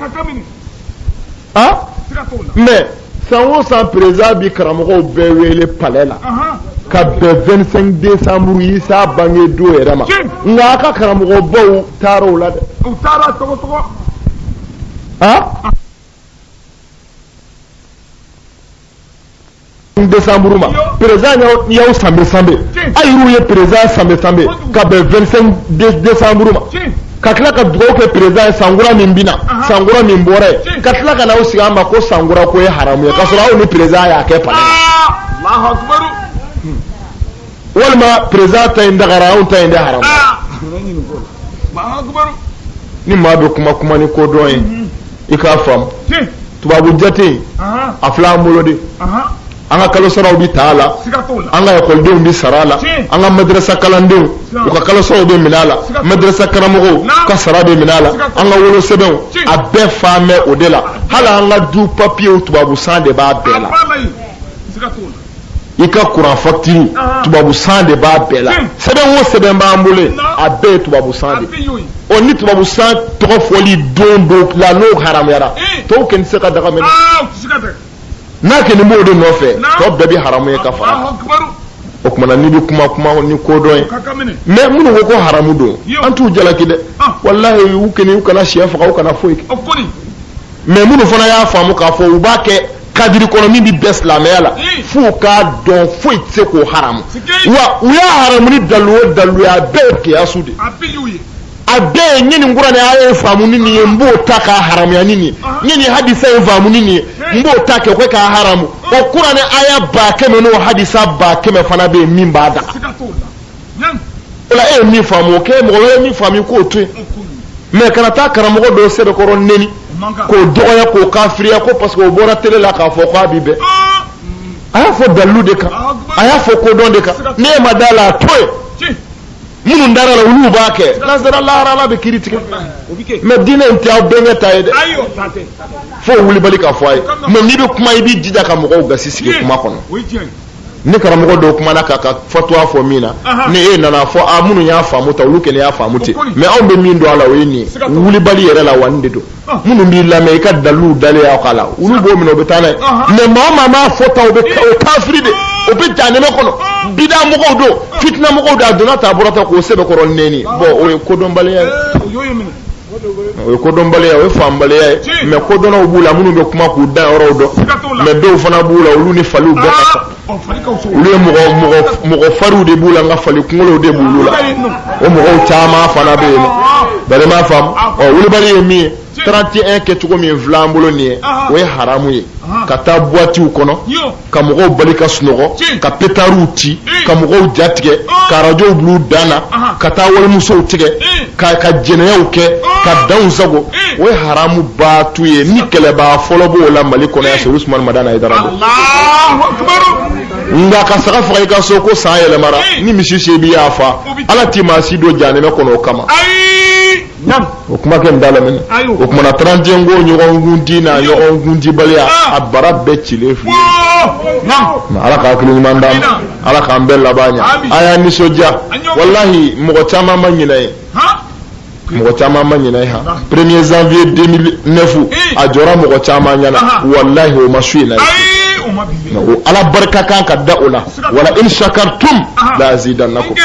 ah mais san o san président bi karamɔgɔw bɛɛ wele palais la ka bɛn 25 décembre isa bange don yɛrɛ ma nka a ka karamɔgɔbaw taara o la dɛ décembre ma président y'aw sanbe sanbe a yɛrɛw ye président sanbe sanbe ka bɛn 25 décembre ma ka tila ka dugawu kɛ président ye sankura min bɛna sankura min bɔra ye ka tila ka n'aw sigi an ma ko sankura ko ye haramu ye k'a sɔrɔ aw ni président y'a kɛ palais la. walima président ta in dagara anw ta in de haramu ah! ni maa bɛ kuma kuma ni kodɔn ye mhm. i k'a faamu tubabu jate a filɛ an bolo de an ka kalo saraw bɛ ta a la an ka ekɔlidenw bɛ sara a la an ka madrasa kalandenw u ka kalo saraw bɛ minɛ a la madrasa karamɔgɔw ka sara bɛ minɛ a la an ka wolosɛbɛnw a bɛɛ fan bɛ o de la hali an ka du papiyew tubabu san de b'a bɛɛ la. i ka kuran fakitiri tubabu san de b'a bɛɛ la sɛbɛn o sɛbɛn b'an bolo a bɛɛ ye tubabu san de ɔ ni tubabu san tɔgɔ fɔli don don la n'o haramuyara tɔw kɛni tɛ se ka daga minɛ n'a kɛni b'o de nɔfɛ tɔ bɛɛ bɛ haramu ye ka fara o kumana n'i bɛ kuma kuma ni kodɔn ye mais minnu ko ko haramu don an t'u jalaki dɛ walahi u kɛni u kana siyɛ faga u kana foyi kɛ mais minnu fana y'a faamu k'a fɔ u b'a kɛ kadiri kɔnɔ min bɛ bɛn silamɛya la f'u k'a dɔn foyi tɛ se k'o haramu wa u y'a haramu ni dalu o dalu ye a bɛɛ ye kiyasu de ye a bɛɛ ye n ye nin kuranɛ aya in faamu ni nin ye n b'o ta k'a haramuya ni nin ye n ye nin hadisa in faamu ni nin ye n b'o ta kɛ k'o k'a haramu o kuranɛ aya ba kɛmɛ n'o hadisa ba kɛmɛ fana bɛ yen min b'a daga. o la e ye min faamu o kɛ mɔgɔ wɛrɛ ye min faamu i k'o to yen mais kana taa karamɔgɔ dɔ sɛbɛkɔrɔ neni k'o dɔgɔya k'o kafiriya ko parce que o bɔra tele la k'a fɔ k'a bi bɛn a y'a fɔ dalilu de kan a y'a fɔ kodɔn de kan n'e ma da la a to yen minnu dara la olu b'a kɛ n'an sara lahara ala bɛ kiri tigɛ mais diinɛ in tɛ aw bɛnkɛ ta ye dɛ fo wulibali ka fɔ a ye mais n'i bɛ kuma i b'i jija ka mɔgɔw gasi sigi kuma kɔnɔ ni karamɔgɔ dɔw kumana k'a ka fatuwa fɔ min na ni e nana fɔ a minnu y'a faamu tan olu kɛlen y'a faamu ten mais anw bɛ min dɔn a la o ye nin ye wulibali yɛrɛ la wa nin de don minnu b'i lamɛn i ka daliluw dalen y'aw k'a la olu b'o minɛ o bɛ taa n'a ye mais maa o maa m'a fɔ tan o bɛ o kafiri de o bɛ jahanɛmɛ kɔnɔ bida mɔgɔw don fitina mɔgɔw don a donna tan a bɔra tan k'o sɛbɛkɔrɔ nɛni bon o ye kodɔnbaliya ye o ye kodɔnbaliya o ye faamubaliya ye mais kodɔnnaw b'u la minnu bɛ kuma k'u da yɔrɔw dɔn mais dɔw fana b'u la olu ni faliw bɛɛ ka kan ah, olu ye mɔgɔ mɔgɔ mɔgɔ fariw de b'u la nka fali kunkolow de b'olu la o mɔgɔw caman fana bɛ yen nɔ ah. bari m'a faamu ah. ɔ wulibali ye min ye 31 kɛcogo min filɛ an bolo nin ye o ye haramu ye ka taa buwatiw kɔnɔ ka mɔgɔw bali ka sunɔgɔ ka petariw ci ka mɔgɔw ja tigɛ ka arajow bil'u dan na ka taa walimusow tigɛ ka jɛnɛyaw kɛ ka danw sagon o ye haramu baatu ye ni kɛlɛbaa fɔlɔ b'o la mali kɔnɔ yan serifu usumani madani hayidara nka ka saga faga i ka so ko san yɛlɛmara ni misi se b'i y'a fa ala ti maa si don jahanɛmɛ kɔnɔ o kama o kuma kɛ da lam o tuma na 31 ko ɲɔgɔnkundi na ɲɔgɔnkundibaliya a bara bɛɛ cilen filɛ ala ka hakili ɲuman d'an ma ala k'an bɛɛ laban ɲɛ a y'aw nisɔndiya walahi mɔgɔ caman ma ɲinɛ ye mɔgɔ caman ma ɲinɛ ye han premier janvier 2009 a jɔra mɔgɔ caman ɲɛna walahi o ma su in na ye ala barika kan ka da o la wala in shakartum la azidannakum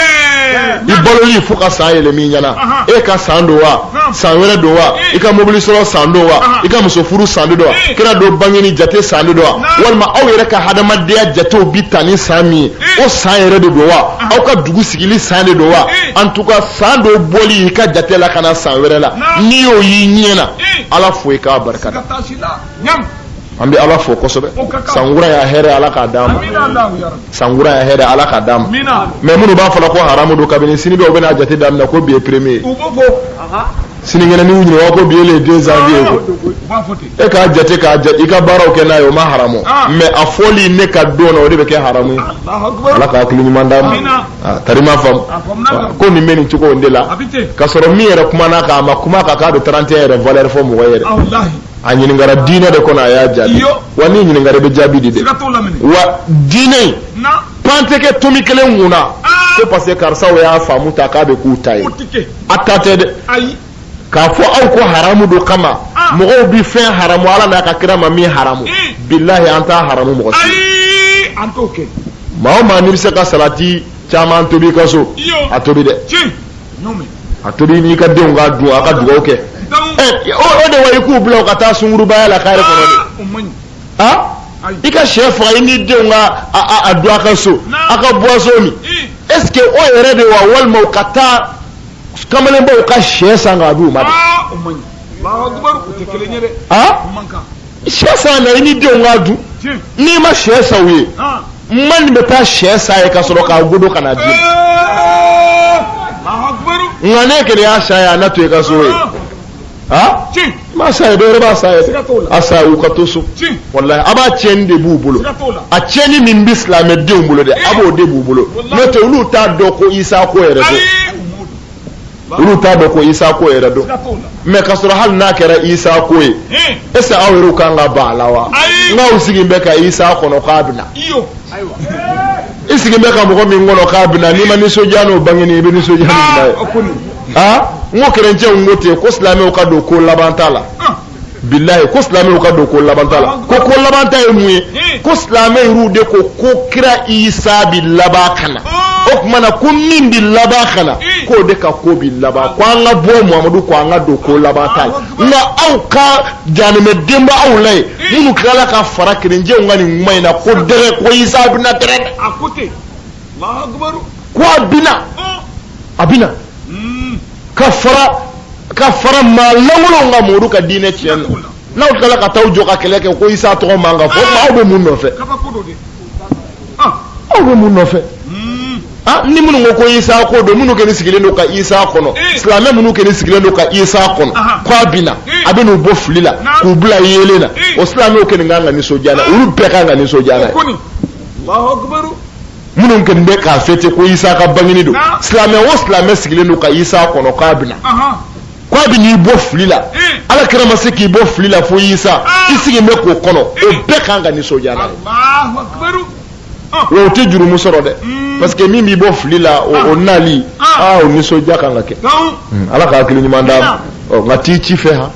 i baloli fo ka san yɛlɛma i ɲɛna e ka san don wa san wɛrɛ don wa i ka mobili sɔrɔ san don wa i ka muso furu san don wa kira dɔ bangeni jate san don wa walima aw yɛrɛ ka hadamadenya jatew bi taa ni san min ye o san yɛrɛ de don wa aw ka dugu sigili san de don wa en tout cas san dɔ bɔli i ka jate la ka na san wɛrɛ la n'i y'o y'i ɲɛ na ala fo i k'a barikada an bɛ ala fo kosɛbɛ sankura ya hɛrɛ ala k'a d'an ma sankura ya hɛrɛ ala k'a d'an ma mais minnu b'a fɔla ko haramu don kabini sini dɔw bɛna jate daminɛ ko bi ye premier sinikɛnɛ n'i ɲininka ko bi ye le deux janvier ye e k'a jate k'a jate i ka baaraw kɛ n'a ye o ma haramu mais a fɔli ne ka don na o de bɛ kɛ haramu ye ala k'a hakili ɲuman d'an ma tari ma faamu ko nin bɛ nin cogo in de la k'a sɔrɔ min yɛrɛ kumana kan a ma kuma kan k'a bɛ 31 yɛrɛ valeur fɔ mɔgɔ yɛrɛ a ɲininkara diinɛ de kɔnɔ a y'a jaabi wa n'i ɲininkara i bɛ jaabi di dɛ wa diinɛ in pan tɛ kɛ tomi kelen kun na ko parce que karisaw y'a faamu ta k'a bɛ k'u ta ye a ta tɛ dɛ k'a fɔ aw ko haramu don kama mɔgɔw bɛ fɛn haramu ala n'a ka kira ma min haramu bilahi an t'a haramu mɔgɔ si maa o maa n'i bɛ se ka salati caman tobi i ka so a tobi dɛ. a tobi n'i ka denw k'a dun a ka dugawu kɛ o de wa i k'u bila u ka taa sungurubaya la kare kɔnɔ de ah, ah? i ka sɛ faga i n'i denw ka a dun a ka so a ka boisson min est ce que o yɛrɛ de wa walima u ka taa kamalenbaw ka sɛ san k'a d'u ma de ah, sɛ san na i ni denw k'a dun n'i ma sɛ san u ye maa min bɛ taa sɛ san u ye ka sɔrɔ k'a godo ka na di nka ne kɛlɛ y'a san u ye a na to i ka so ye ha ma san u ye dɔwɛrɛ b'a san u ye a san u ye u ka to so walayi a b'a tiɲɛni de b'u bolo a tiɲɛni min bɛ silamɛdenw bolo dɛ a b'o de b'u bolo n'o tɛ olu t'a dɔn ko isa ko yɛrɛ don. olu t'a dɔn ko isa ko yɛrɛ don mais ka sɔrɔ hali n'a kɛra isa ko ye est ce que aw yɛrɛw kan ka ban a la wa n'aw sigin bɛ ka isa kɔnɔ k'a bɛna i sigin bɛ ka mɔgɔ min kɔnɔ k'a bɛna n'i ma nisɔndiya n'o bangeni i bɛ nisɔndiya n'o bila ye n ko kerecɛnw ko ten ko silamɛw ka don ko laban ta la bilayi ko silamɛw ka don ko labanta la ko ko labanta ye mun ye ko silamɛw de ko ko kira isa bi laban ka na o tuma na ko min bi laban ka na k'o de ka ko bi laban ko an ka bɔ muhamadu ko an ka don ko laban ta la nka aw ka jahanama den b'aw la yen minnu tilala ka fara kerecɛnw kan nin kuma in na ko dɛrɛ ko isa bɛna dɛrɛ dɛ. ko a bina a bina ka fara ka fara maa lankolonw kan minnu ka diinɛ tiɲɛna n'aw tilala ka taa jɔ ka kɛlɛ kɛ ko isa tɔgɔ man kan ka fɔ ah. aw bɛ mun nɔfɛ ah. aw bɛ mun nɔfɛ hmm. ah, ni minnu ko ko isa ko don minnu kɛlen sigilen don ka isa kɔnɔ eh. silamɛ minnu kɛlen sigilen don ka isa kɔnɔ ko a bina eh. a bɛ n'u bɔ fili la k'u bila yeelen na eh. o silamɛw kelen kan ka nisɔndiya n'a ye olu bɛɛ kan ka nisɔndiya n'a ye. minnu kɛlen bɛ k'a fêter ko isa ka bangini don silamɛ o silamɛ sigilen don ka isa kɔnɔ k'a bɛna k'a bɛ n'i bɔ fili la eh. ala kira ma se k'i bɔ fili la fo isa ah. i sigilen bɛ k'o kɔnɔ o eh. bɛɛ kan ka nisɔndiya n'a ye ah. wa o tɛ jurumu sɔrɔ dɛ hmm. parce que min b'i bɔ fili la o ah. nali aa o nisɔndiya kan ka kɛ hmm, ala ka hakili ɲuman d'an ma nka t'i ci fɛ han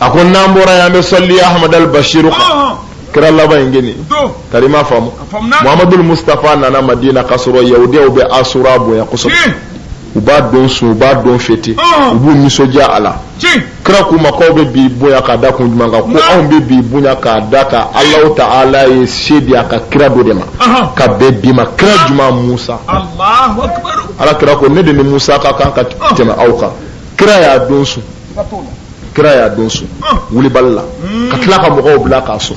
a ko n'an bɔra yan an bɛ sɔli ahmad al bashiru kan kira laban in gini tari ma faamu muhammadu mustapha nana madina k'a sɔrɔ yahudiyaw bɛ asura bonya kosɛbɛ u b'a don sun u b'a don fêter u b'u nisɔndiya a la kira k'u ma k'aw bɛ bi bonya k'a da kun jumɛn kan ko anw bɛ bi bonya k'a da ka alahu ta'ala ye se di a ka kira dɔ de ma ka bɛn bi ma kira jumɛn musa ala kira ko ne de ni musa ka kan ka tɛmɛ aw kan kira y'a don sun kira y'a don sun wulibali la ka tila ka mɔgɔw bila k'a sun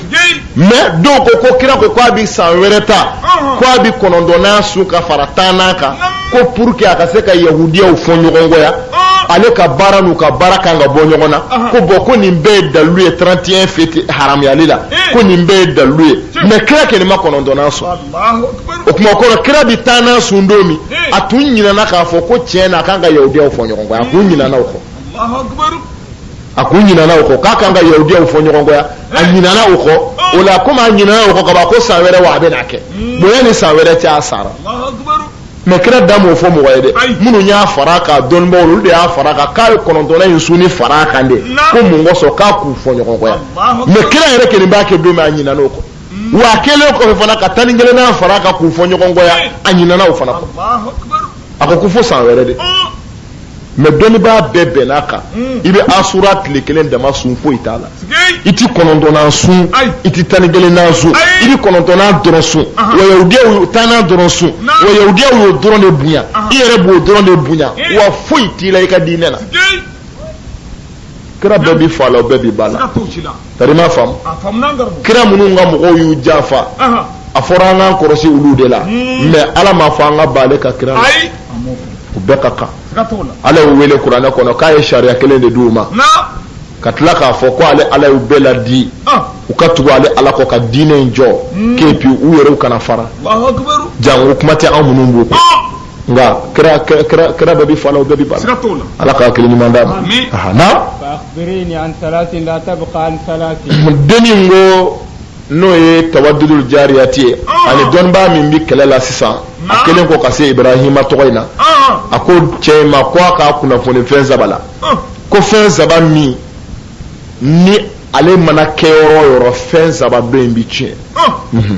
mais dɔw ko ko kira ko k'a bi san wɛrɛ ta k'a bi kɔnɔntɔnnan sun ka fara tannan kan ko pour que a ka se ka yahudiyaw fɔ ɲɔgɔn kɔya ale ka baara n'u ka baara kan ka bɔ ɲɔgɔn na ko bon ko nin bɛɛ ye dalilu ye 31 fête haramuyali la ko nin bɛɛ ye dalilu ye mais kira kɔni ma kɔnɔntɔnnan sun o kuma kɔrɔ kira bɛ tannan sun don min a tun ɲinɛna k'a fɔ ko tiɲɛ na a kan ka yahudiyaw fɔ ɲɔgɔn kɔ a tun ɲinɛna o kɔ a tun ɲinɛna o kɔ k'a kan ka yahudiyaw fɔ ɲɔgɔn kɔ a ɲinɛna o kɔ o la komi a ɲinɛna o kɔ kaban ko san wɛrɛ wa a bɛ n'a kɛ bon yanni san wɛrɛ cɛ a sara mais kira da m'o fɔ mɔgɔ ye dɛ minnu y'a fara kan dɔnnibaaw olu de y'a fara kan k'a ye kɔnɔntɔnnan in sunni fara kan de ko mun kosɔn k'a k'u fɔ ɲɔgɔn kɔya mais kira yɛrɛ kelen b'a kɛ don min a ɲinɛna o kɔ wa a kɛlen kɔfɛ fana ka tan ni kelennan fara kan k'u fɔ ɲɔgɔn kɔya a ɲinana o fana kɔ a ko ko fo san wɛrɛ de mais dɔnnibaa bɛɛ bɛnn'a kan i bɛ asura tile kelen dama sun foyi t'a la i ti kɔnɔntɔnnan sun i ti tan ni kelennan sun i bɛ kɔnɔntɔnnan dɔrɔn sun wa yahudiyaw tannan dɔrɔn sun wa yahudiyaw y'o dɔrɔn de bonya i yɛrɛ b'o dɔrɔn de bonya wa foyi t'i la i ka diinɛ la kira bɛɛ b'i fa la o bɛɛ b'i ba la Tari ma faamu kira minnu ka mɔgɔw y'u janfa a fɔra an k'an kɔlɔsi olu de la hmm. mais ala m'a fɔ an ka ban ale ka kira la u bɛɛ ka kan ala y'u wele kuranɛ kɔnɔ k'a ye sariya kelen de di u ma ka tila k'a fɔ ko ale ala y'u bɛɛ laadi u ka tugu ale ala kɔ ka diinɛ in jɔ hmm. k'e puis u yɛrɛ kana fara jango kuma tɛ anw minnu b'u kɔ nka kira bɛɛ b'i fa la o bɛɛ b'i ba la. siga t'o la. ala ka hakili ɲuman d'an ma. amiina. faakirini an salati la tabuka an salati. denni ko n'o ye tawadudul jariyati ye ah. ani dɔnnibaa min bɛ kɛlɛ la sisan a kɛlen kɔ ka se ibrahima tɔgɔ in na ah. a ko cɛ in ma ko a k'a kunnafoni fɛn saba la ah. ko fɛn saba min ni ale mana kɛ yɔrɔ o yɔrɔ fɛn saba dɔ in bɛ tiɲɛ. Mhm.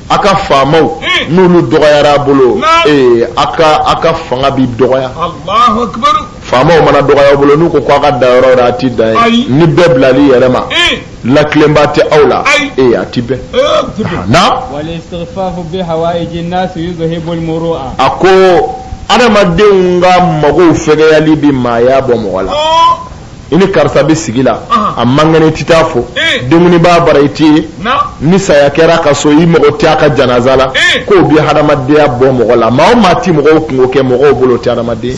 a ka faamaw hmm. n'olu dɔgɔyara a bolo ee a ka a ka fanga bɛ dɔgɔya faamaw mana dɔgɔya bolo n'u ko k'a ka da yɔrɔ la a ti da ye ni bɛɛ bilal'i yɛrɛ ma hmm. latilenba tɛ aw la ee a ti bɛn eh, na a ko adamadenw ka magow fɛgɛyali bɛ maaya bɔ mɔgɔ la oh. i ni karisa bɛ sigi la a man kɛnɛ i tɛ taa fo dumuni b'a bara i tɛ ye ni saya kɛra ka so i mago tɛ a ka janaza la k'o bɛ hadamadenya bɔ mɔgɔ la maa o maa tɛ mɔgɔw kunko kɛ mɔgɔw bolo tɛ hadamaden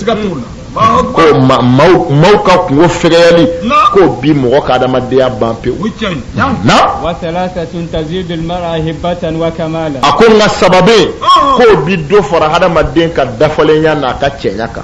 ko maaw ka kunko fɛgɛyali k'o bi mɔgɔ ka hadamadenya ban pewu na a ko nka saba bɛ k'o bi dɔ fara hadamaden ka dafalenya n'a ka cɛɲa kan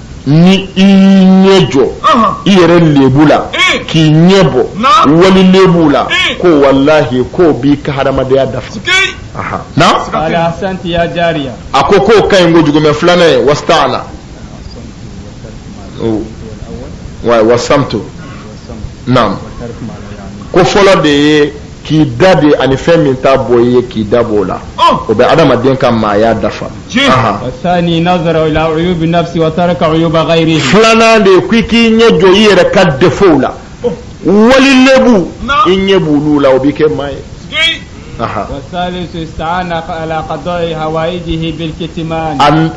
ni i ɲɛ jɔ i yɛrɛ lebu la k'i ɲɛ bɔ wali lebu la ko walahi k'o b'i ka hadamadenya dafa a ko k'o ka ɲi kojugu mɛ filanan ye wastaana wasamtu naamu ko fɔlɔ de ye k'i dade ani fɛn min t'a bɔ i ye k'i da b'o la oh! o bɛ adamaden ka maaya dafa filanan de ye k'i k'i ɲɛ jɔ i yɛrɛ ka defow la oh! wali lebu i ɲɛ b'olu la o b'i kɛ maa ye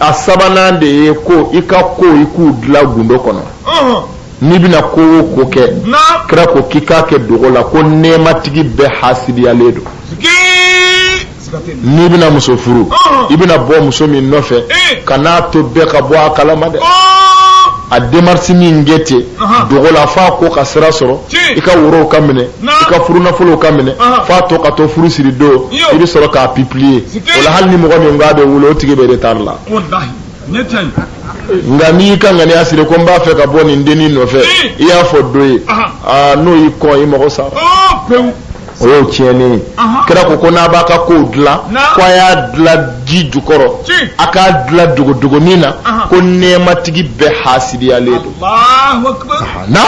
a sabanan de ye ko i ka kow i k'u dilan gundo kɔnɔ n'i bɛna ko o ko kɛ kira ko k'i k'a kɛ dogo la ko nɛɛmatigi bɛɛ hasidiyalen don n'i bɛna muso furu i bɛna bɔ muso min nɔfɛ eh. kan'a to bɛɛ ka bɔ a kalama dɛ a demarisi min kɛ ten dogo la f'a ko ka sira sɔrɔ i ka worow ka minɛ i ka furunafolow ka minɛ f'a to ka to furu siri don i bɛ sɔrɔ k'a pibiliye o la hali ni mɔgɔ min k'a bɛ wuli o tigi bɛ retari la nka n'i y'i ka ŋaniya siri ko n b'a fɛ ka bɔ nin dennin nɔfɛ i y'a fɔ dɔ ye aa n'o y'i kɔn i mago sara o y'o tiɲɛnen ye kira ko ko n'a b'a ka kow dilan ko a y'a dilan ji jukɔrɔ a k'a dilan dogodogonin na ko nɛɛmatigi bɛɛ hasidiyalen don na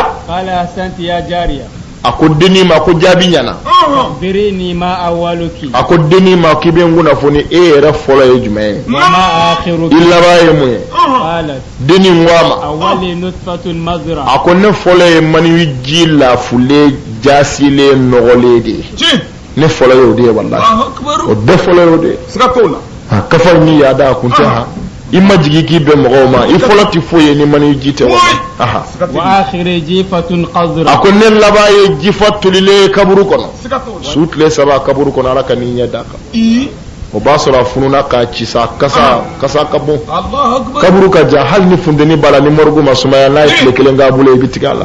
a ko dennin ma ko jaabi ɲɛna birini ma awaluki a ko dennin ma k'i bɛ n kunnafoni e yɛrɛ fɔlɔ ye jumɛn ye i laban ye mun ye dennin ko a ma a ko ne fɔlɔ ye maniwi ji lafulen jaasilen nɔgɔlen de ye ne fɔlɔ y'o de ye walahi o bɛɛ fɔlɔ y'o de ye ka fa ni yada kun tɛ ha i majigin k'i bɛn mɔgɔw ma i fɔlɔ tɛ foyi ye ni maniji tɛ wa a ko ne laban ye jifa tolilen kaburu kɔnɔ su tile saba kaburu kɔnɔ ala kan'i ɲɛ d'a kan o b'a sɔrɔ a fununa ka ci sa kasa kasa ka bon kaburu ka jan hali ni funteni b'a la ni mɔrigu ma sumaya n'a ye tile kelen k'a bolo i bɛ tigɛ a la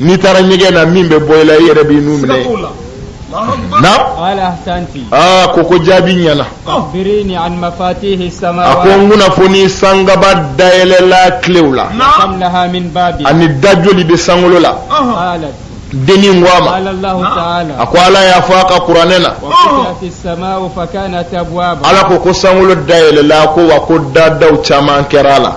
n'i taara ɲɛgɛn na min bɛ bɔ i la i yɛrɛ b'i nun minɛ a ko ko jaabi ɲɛna a ko n kunnafoni sangaba dayɛlɛlan kilew la ani da joli bɛ sankolo la denin ko a ma a ko ala y'a fɔ a ka kuranɛ na ala ko ko sankolo dayɛlɛla ko wa ko dadaw caman kɛra a la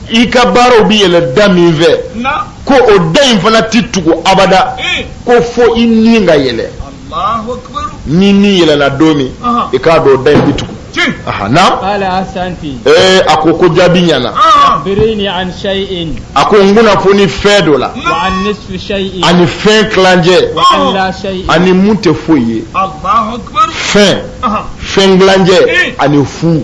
i ka baaraw bɛ yɛlɛn da min fɛ ko o da in fana tɛ tugu abada eh. ko fo i ni ka yɛlɛn ni ni yɛlɛnna don min i k'a dɔn o da in bɛ tugu eh, a ko ko jaabi ɲɛna ah. a ko n kunnafoni fɛn dɔ la ani fɛn tilancɛ ani mun tɛ foyi ye fɛn fɛn tilancɛ eh. ani fu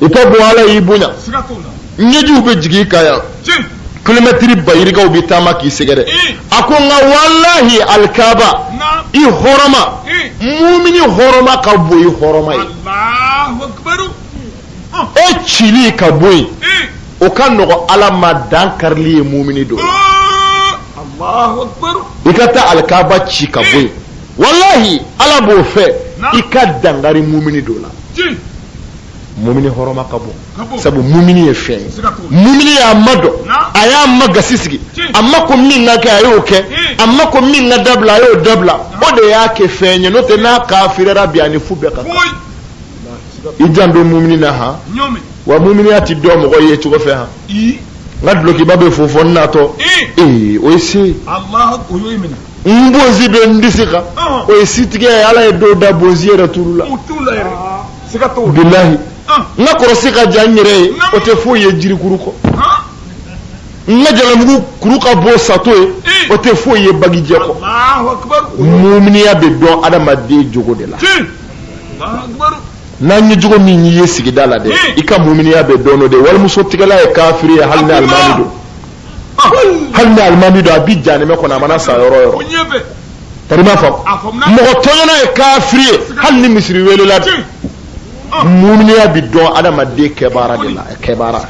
i ka bon ala y'i bonya ɲɛjiw bɛ jigin ka yan kilomɛtiri ba yirikaw bɛ taama k'i sɛgɛrɛ a ko nka walahi alikaba i hɔrɔma mumini hɔrɔma ka bon i hɔrɔma ye o cili ka bɔ yen o ka nɔgɔ ala ma dankarili ye mumini dɔ i ka taa alikaba ci ka bɔ yen walahi ala b'o fɛ i ka dankari mumini dɔ la mumini hɔrɔma ka bon sabu mumini ye fɛn ye mumini y'a ma dɔn a y'a ma gasi sigi a ma ko min ka kɛ a y'o kɛ a ma ko min ka dabila a y'o dabila o de y'a kɛ fɛn ye n'o tɛ n'a kafirira bi a ni fu bɛɛ ka kan i janto mumini na han wa muminiya ti dɔn mɔgɔ yecogo fɛ han n ka dulokiba bɛ fofo n natɔ ee o ye se n bonsi bɛ n disi kan o ye sitigɛ ye ala ye dɔw da bonsi yɛrɛ t'olu la bilahi n ka kɔrɔsi ka jan n yɛrɛ ye o tɛ foyi ye jirikuru kɔ n ka jalamugu kuru ka bon sato ye o tɛ foyi ye bagijɛ kɔ muminiya bɛ dɔn adamaden jogo de la n'an ye jogo min y'i ye sigida la dɛ i ka muminiya bɛ dɔn o de walimuso tigɛla ye kafiri ye hali ni alimami don hali ni alimami don a bi janɛmɛ kɔnɔ a mana sa yɔrɔ o yɔrɔ tari ma faamu mɔgɔ tɔɲɔnna ye kafiri ye hali ni misiri welela bi muminiya bi dɔn adamaden kɛbaara de la kɛbaara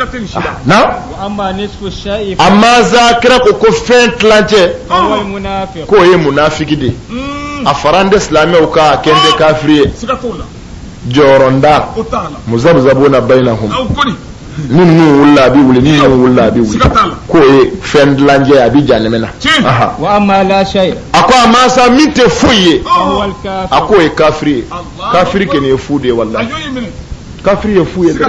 na amma sa kira ko ko fɛn tilancɛ k'o ye munafiki de ye a faralen tɛ silamɛw kan a kɛlen tɛ kafiri ye jɔyɔrɔntan muzabuzabuna bayinahum ni ninnu wulila a bɛ wuli ni ninnu wulila a bɛ wuli k'o ye fɛn tilancɛ a bɛ janɛmɛ na a ko amma sa min tɛ foyi ye a k'o ye kafiri ye kafiri kɛnin ye fu de ye wallahi kafiri ye fu ye dɛ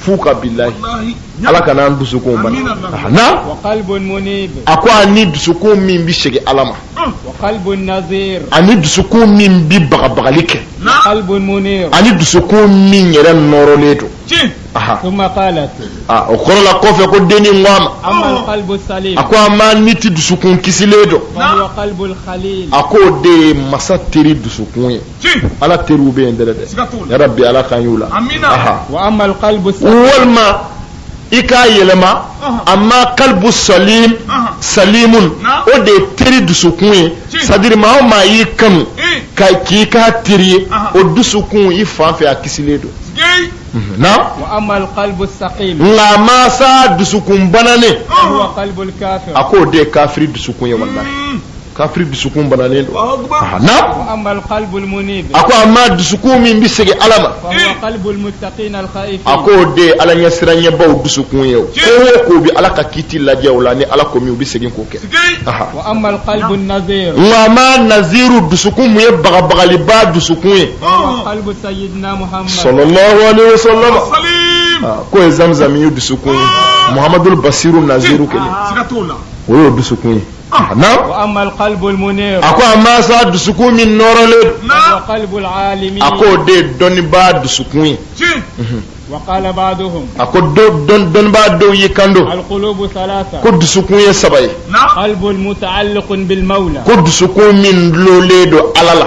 f'u ka bilahi ala kan'an dusukun bana a ko ani dusukun min bɛ segin ala ma ani dusukun min bɛ bagabagali kɛ ani dusukun min yɛrɛ nɔrɔlen don o kɔrɔ la kɔfɛ ko dennin ko a ma a ko amma n'i tɛ dusukun kisilen dɔn a ko o de ye masa teri dusukun ye ala teriw bɛ yen dɛ dɛ yarabi ala k'an k'u la walima i k'a yɛlɛma amma kalibu salim salimu o de ye teri dusukun ye sadiri maa o maa y'i kanu ka k'i k'a teri ye o dusukun i fan fɛ a kisilen don na nka amma sa dusukun bananen a k'o de ye kafiri dusukun ye wala kafiri dusukun banalen don ah, na a ko amma dusukun min bɛ segin ala ma a ko o de ye ala ɲɛsiranbaw dusukun ye o ko o ko bɛ ala ka kiiti lajɛ o la ni ala ko min u bɛ segin k'o kɛ nka amma naziru dusukun mun ye bagabagaliba dusukun ye sallallahu aleyhi wa sallam k'o ye zamzami ye dusukun ye muhamadu basiru naziru kelen o y'o dusukun ye. a ko amma sa dusukun min nɔrɔlen don a ko o de ye dɔnnibaa dusukun ye a ko dɔnnibaa dɔw y'i kanto ko dusukun ye saba ye ko dusukun min dulolen don ala la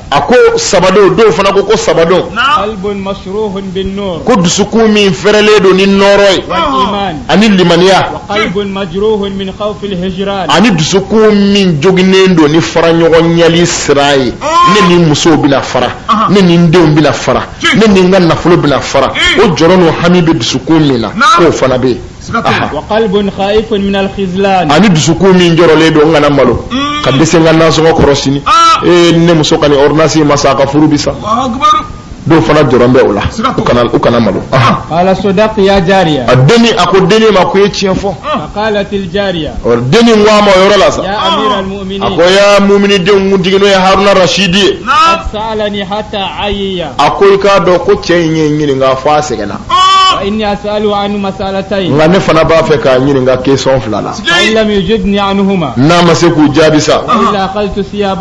a ko saba don dɔw fana ko ko saba don ko dusukun min fɛrɛlen don ni nɔɔrɔ ye ani limaniya ani dusukun min joginnen don ni faraɲɔgɔnnali siran ye ne ni musow bɛna fara ne ni n denw bɛna fara ne ni n ka nafolo bɛna fara o jɔrɔ n'o hami bɛ dusukun min na k'o fana bɛ yen ani dusukun min jɔrɔlen don n kana malo mm. ka dɛsɛ n ka nasɔngɔ kɔrɔ sini ah. ee ne muso ka nin ordonnance ma san a ka furu bi sa dɔw fana jɔrɔ bɛ o la u kana u kana malo qala sadaqti ya jariya a denni a ko denni ma ko i ye tiɲɛ fɔ faqalat al jariya ɔ denni ko a ma o yɔrɔ la sa ya amir al mu'minin a ko ya mu'mini denw kuntigi n'o ye haruna rashidi ye qad sa'alani hatta ayiya a ko i k'a dɔn ko cɛ in ye n ɲininka fo a sɛgɛnna nka ne fana b'a fɛ k'a ɲininka question fila la n'a ma se k'u jaabi sa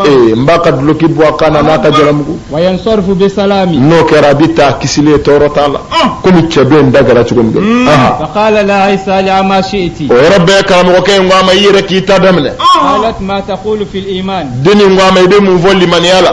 ee n b'a ka duloki bɔ a kan na n'a ka jalamugu n'o kɛra a bɛ taa kisilen tɔɔrɔ t'a la komi cɛ dɔ in ta kɛra cogo min hmm. o yɔrɔ bɛɛ karamɔgɔkɛ in ko a ma i yɛrɛ k'i ta daminɛ dennin ko a ma i bɛ mun fɔ limaniya la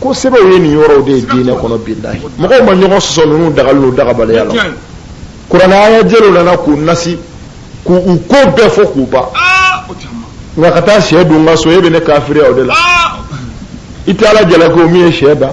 ko sɛbɛw ye nin yɔrɔw de ye diinɛ kɔnɔ bilahi mɔgɔw ma ɲɔgɔn sɔsɔ ninnu dagali n'u dagabaliya la kuranɛ aya jɛlenw nana k'u nasi k'u ko bɛɛ fɔ k'u ban ah, nka ka taa shɛ dun n ka so e bɛ ne kafiriya o de la ah. i tɛ ala jalaki o min ye shɛ da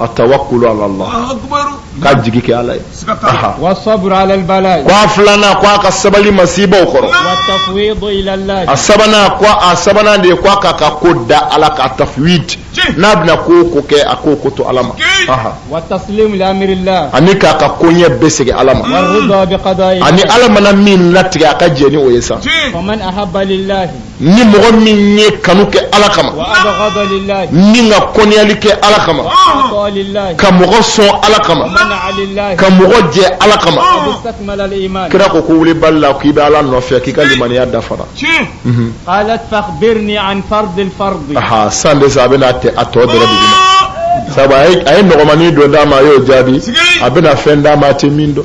at-tawakkulu ala Allah ka jigi kɛ ala ye wa sabru alal bala ko a filanan ko a ka sabali masibaw kɔrɔ wa tafwidu ila Allah a sabanan ko a sabanan de ko a k'a ka ko da ala kan tafwid n'a bɛna ko o ko kɛ a k'o ko to ala ma wa taslimu li amrillah ani k'a ka koɲɛ bɛɛ segin ala ma wa rida bi qada'i ani ala mana min latigɛ a ka jɛn ni o ye sa wa man ahabba lillahi ni mɔgɔ min ye kanu kɛ ala kama ani ka kɔnyali kɛ ala kama ka mɔgɔ sɔn ala kama ka mɔgɔ jɛ ala kama kira ko ko wulibali la k'i bɛ ala nɔfɛ k'i ka limaniya dafara mhm. san de sa a bɛna a tɔ dɛrɛ dugu ma sabu a ye nɔgɔmanin dɔ d'a ma a y'o jaabi a bɛna fɛn d'a ma a tɛ min dɔn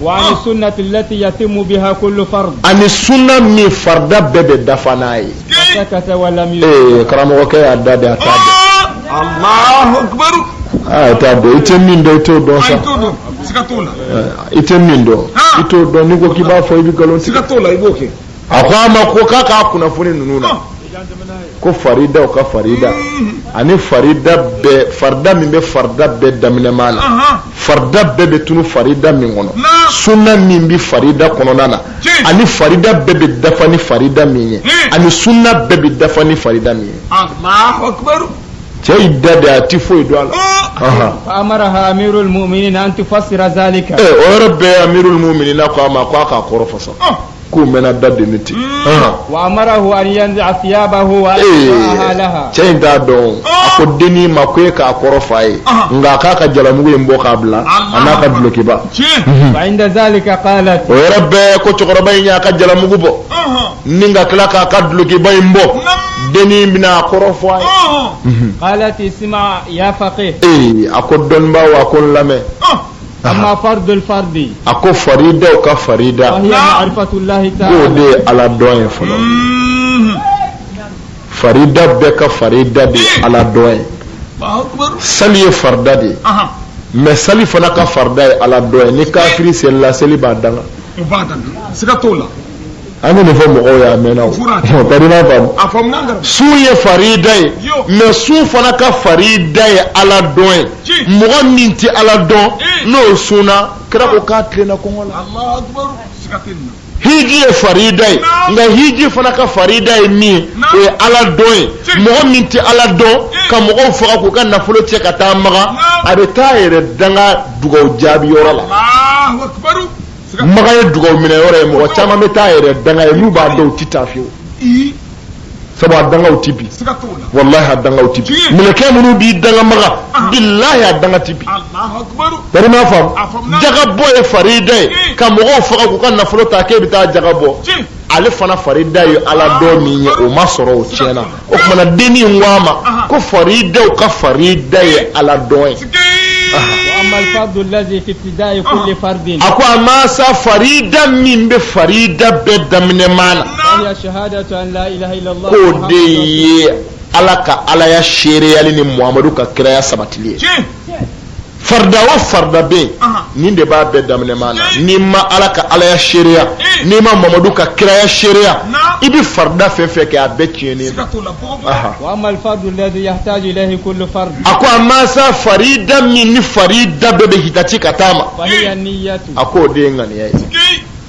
wa ani sunnati lati yatimmu biha kullu fard ani sunna min farda bɛɛ bɛ dafa n'a ye sakata wa lam yujib ee karamɔgɔkɛ y'a da de a t'a dɔn allahu akbar a t'a dɔn i tɛ min dɔn i t'o dɔn sa i tɛ min dɔn i t'o dɔn n'i ko k'i b'a fɔ i bɛ nkalon tigɛ siga t'o la i b'o kɛ a ko a ma ko k'a k'a kunnafoni ninnu na ko farida o ka farida ani farida bɛɛ farida min bɛ farida bɛɛ daminɛma na farida bɛɛ bɛ tunu farida min kɔnɔ sunna min bɛ farida kɔnɔna na ani farida bɛɛ bɛ dafa ni farida min ye ani sunna bɛɛ bɛ dafa ni farida min ye cɛ y'i da de a ti foyi dɔn a la. fa amaraha amirul mu'minin an tufassira zalika. ee o yɔrɔ bɛɛ amirul mu'minin ko a ma ko a k'a kɔrɔ fɔ sa. k'o mɛnna da deni ten wa amarahu an yanzi'a thiyabahu wa yalbasaha laha cɛ in t'a dɔn a ko dennin ma ko e k'a kɔrɔ f'a ye nka a k'a ka jalamugu in bɔ k'a bila an'a ka dulokiba fa inda zalika qalat o yɔrɔ bɛɛ ko cɛkɔrɔba in y'a ka jalamugu bɔ ni ka tila k'a ka dulokiba in bɔ dennin bɛna a kɔrɔ fɔ a ye qalat isma ya faqih ee a ko dɔnbaa wa ko n lamɛn amma fardul fardi a ko faridaw ka farida wa hiya ma'rifatullahi ta'ala k'o de ye ala dɔn ye fɔlɔ farida bɛɛ ka farida de ye ala dɔn ye Allahu akbar. sali ye farida de ye Aha. mɛ sali fana ka farida ye ala dɔn ye ni kafiri selila seli b'a danga O b'a dan. Siga t'o la. an bɛ nin fɔ mɔgɔw ye a mɛnna o ka di n'a faamu sun ye farida ye mɛ sun fana ka farida ye ala dɔn ye mɔgɔ min tɛ ala dɔn n'o sunna kira ko k'a tilenna kɔngɔ la hiji ye farida ye nka hiji fana ka farida ye min ye o ye ala dɔn ye mɔgɔ min tɛ ala dɔn ka mɔgɔw faga k'u ka nafolo cɛ ka taa makan a bɛ t'a yɛrɛ danga dugawu jaabi yɔrɔ la makan ye dugawu minɛ yɔrɔ ye mɔgɔ caman bɛ t'a yɛrɛ danga yen n'u b'a dɔn u tɛ taa fiyewu sabu a dangaw tɛ bin walahi a dangaw tɛ bin mɛlɛkɛ minnu b'i danga makan ah. bilahi a danga tɛ bin bari m'a faamu jakabɔ ye farida ye ka mɔgɔw faga k'u ka nafolo ta k'e bɛ taa jaka bɔ ale fana farida ye ala dɔn min ye o ma sɔrɔ o tiɲɛna o tuma na dennin ko a ma ko faridaw ka farida ye ala dɔn ye a ko a ma sa farida min bɛ farida bɛɛ daminɛma na k'o de ye ala ka alaya seereyali ni muhamadu ka kiraya sabatili ye farida o farida bɛ yen nin de b'a bɛɛ daminɛma na n'i ma ala ka alaya seereya n'i ma mamadu ka kiraya seereya i bɛ farida fɛn fɛn kɛ a bɛɛ tiɲɛnen a ko a ma sa farida min ni farida bɛɛ bɛ hitati ka taama a ko o de ye ŋaniya ye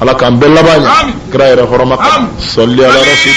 ala k'an bɛɛ laban ɲɛ kira yɛrɛ hɔrɔma kan sɔli ala rasul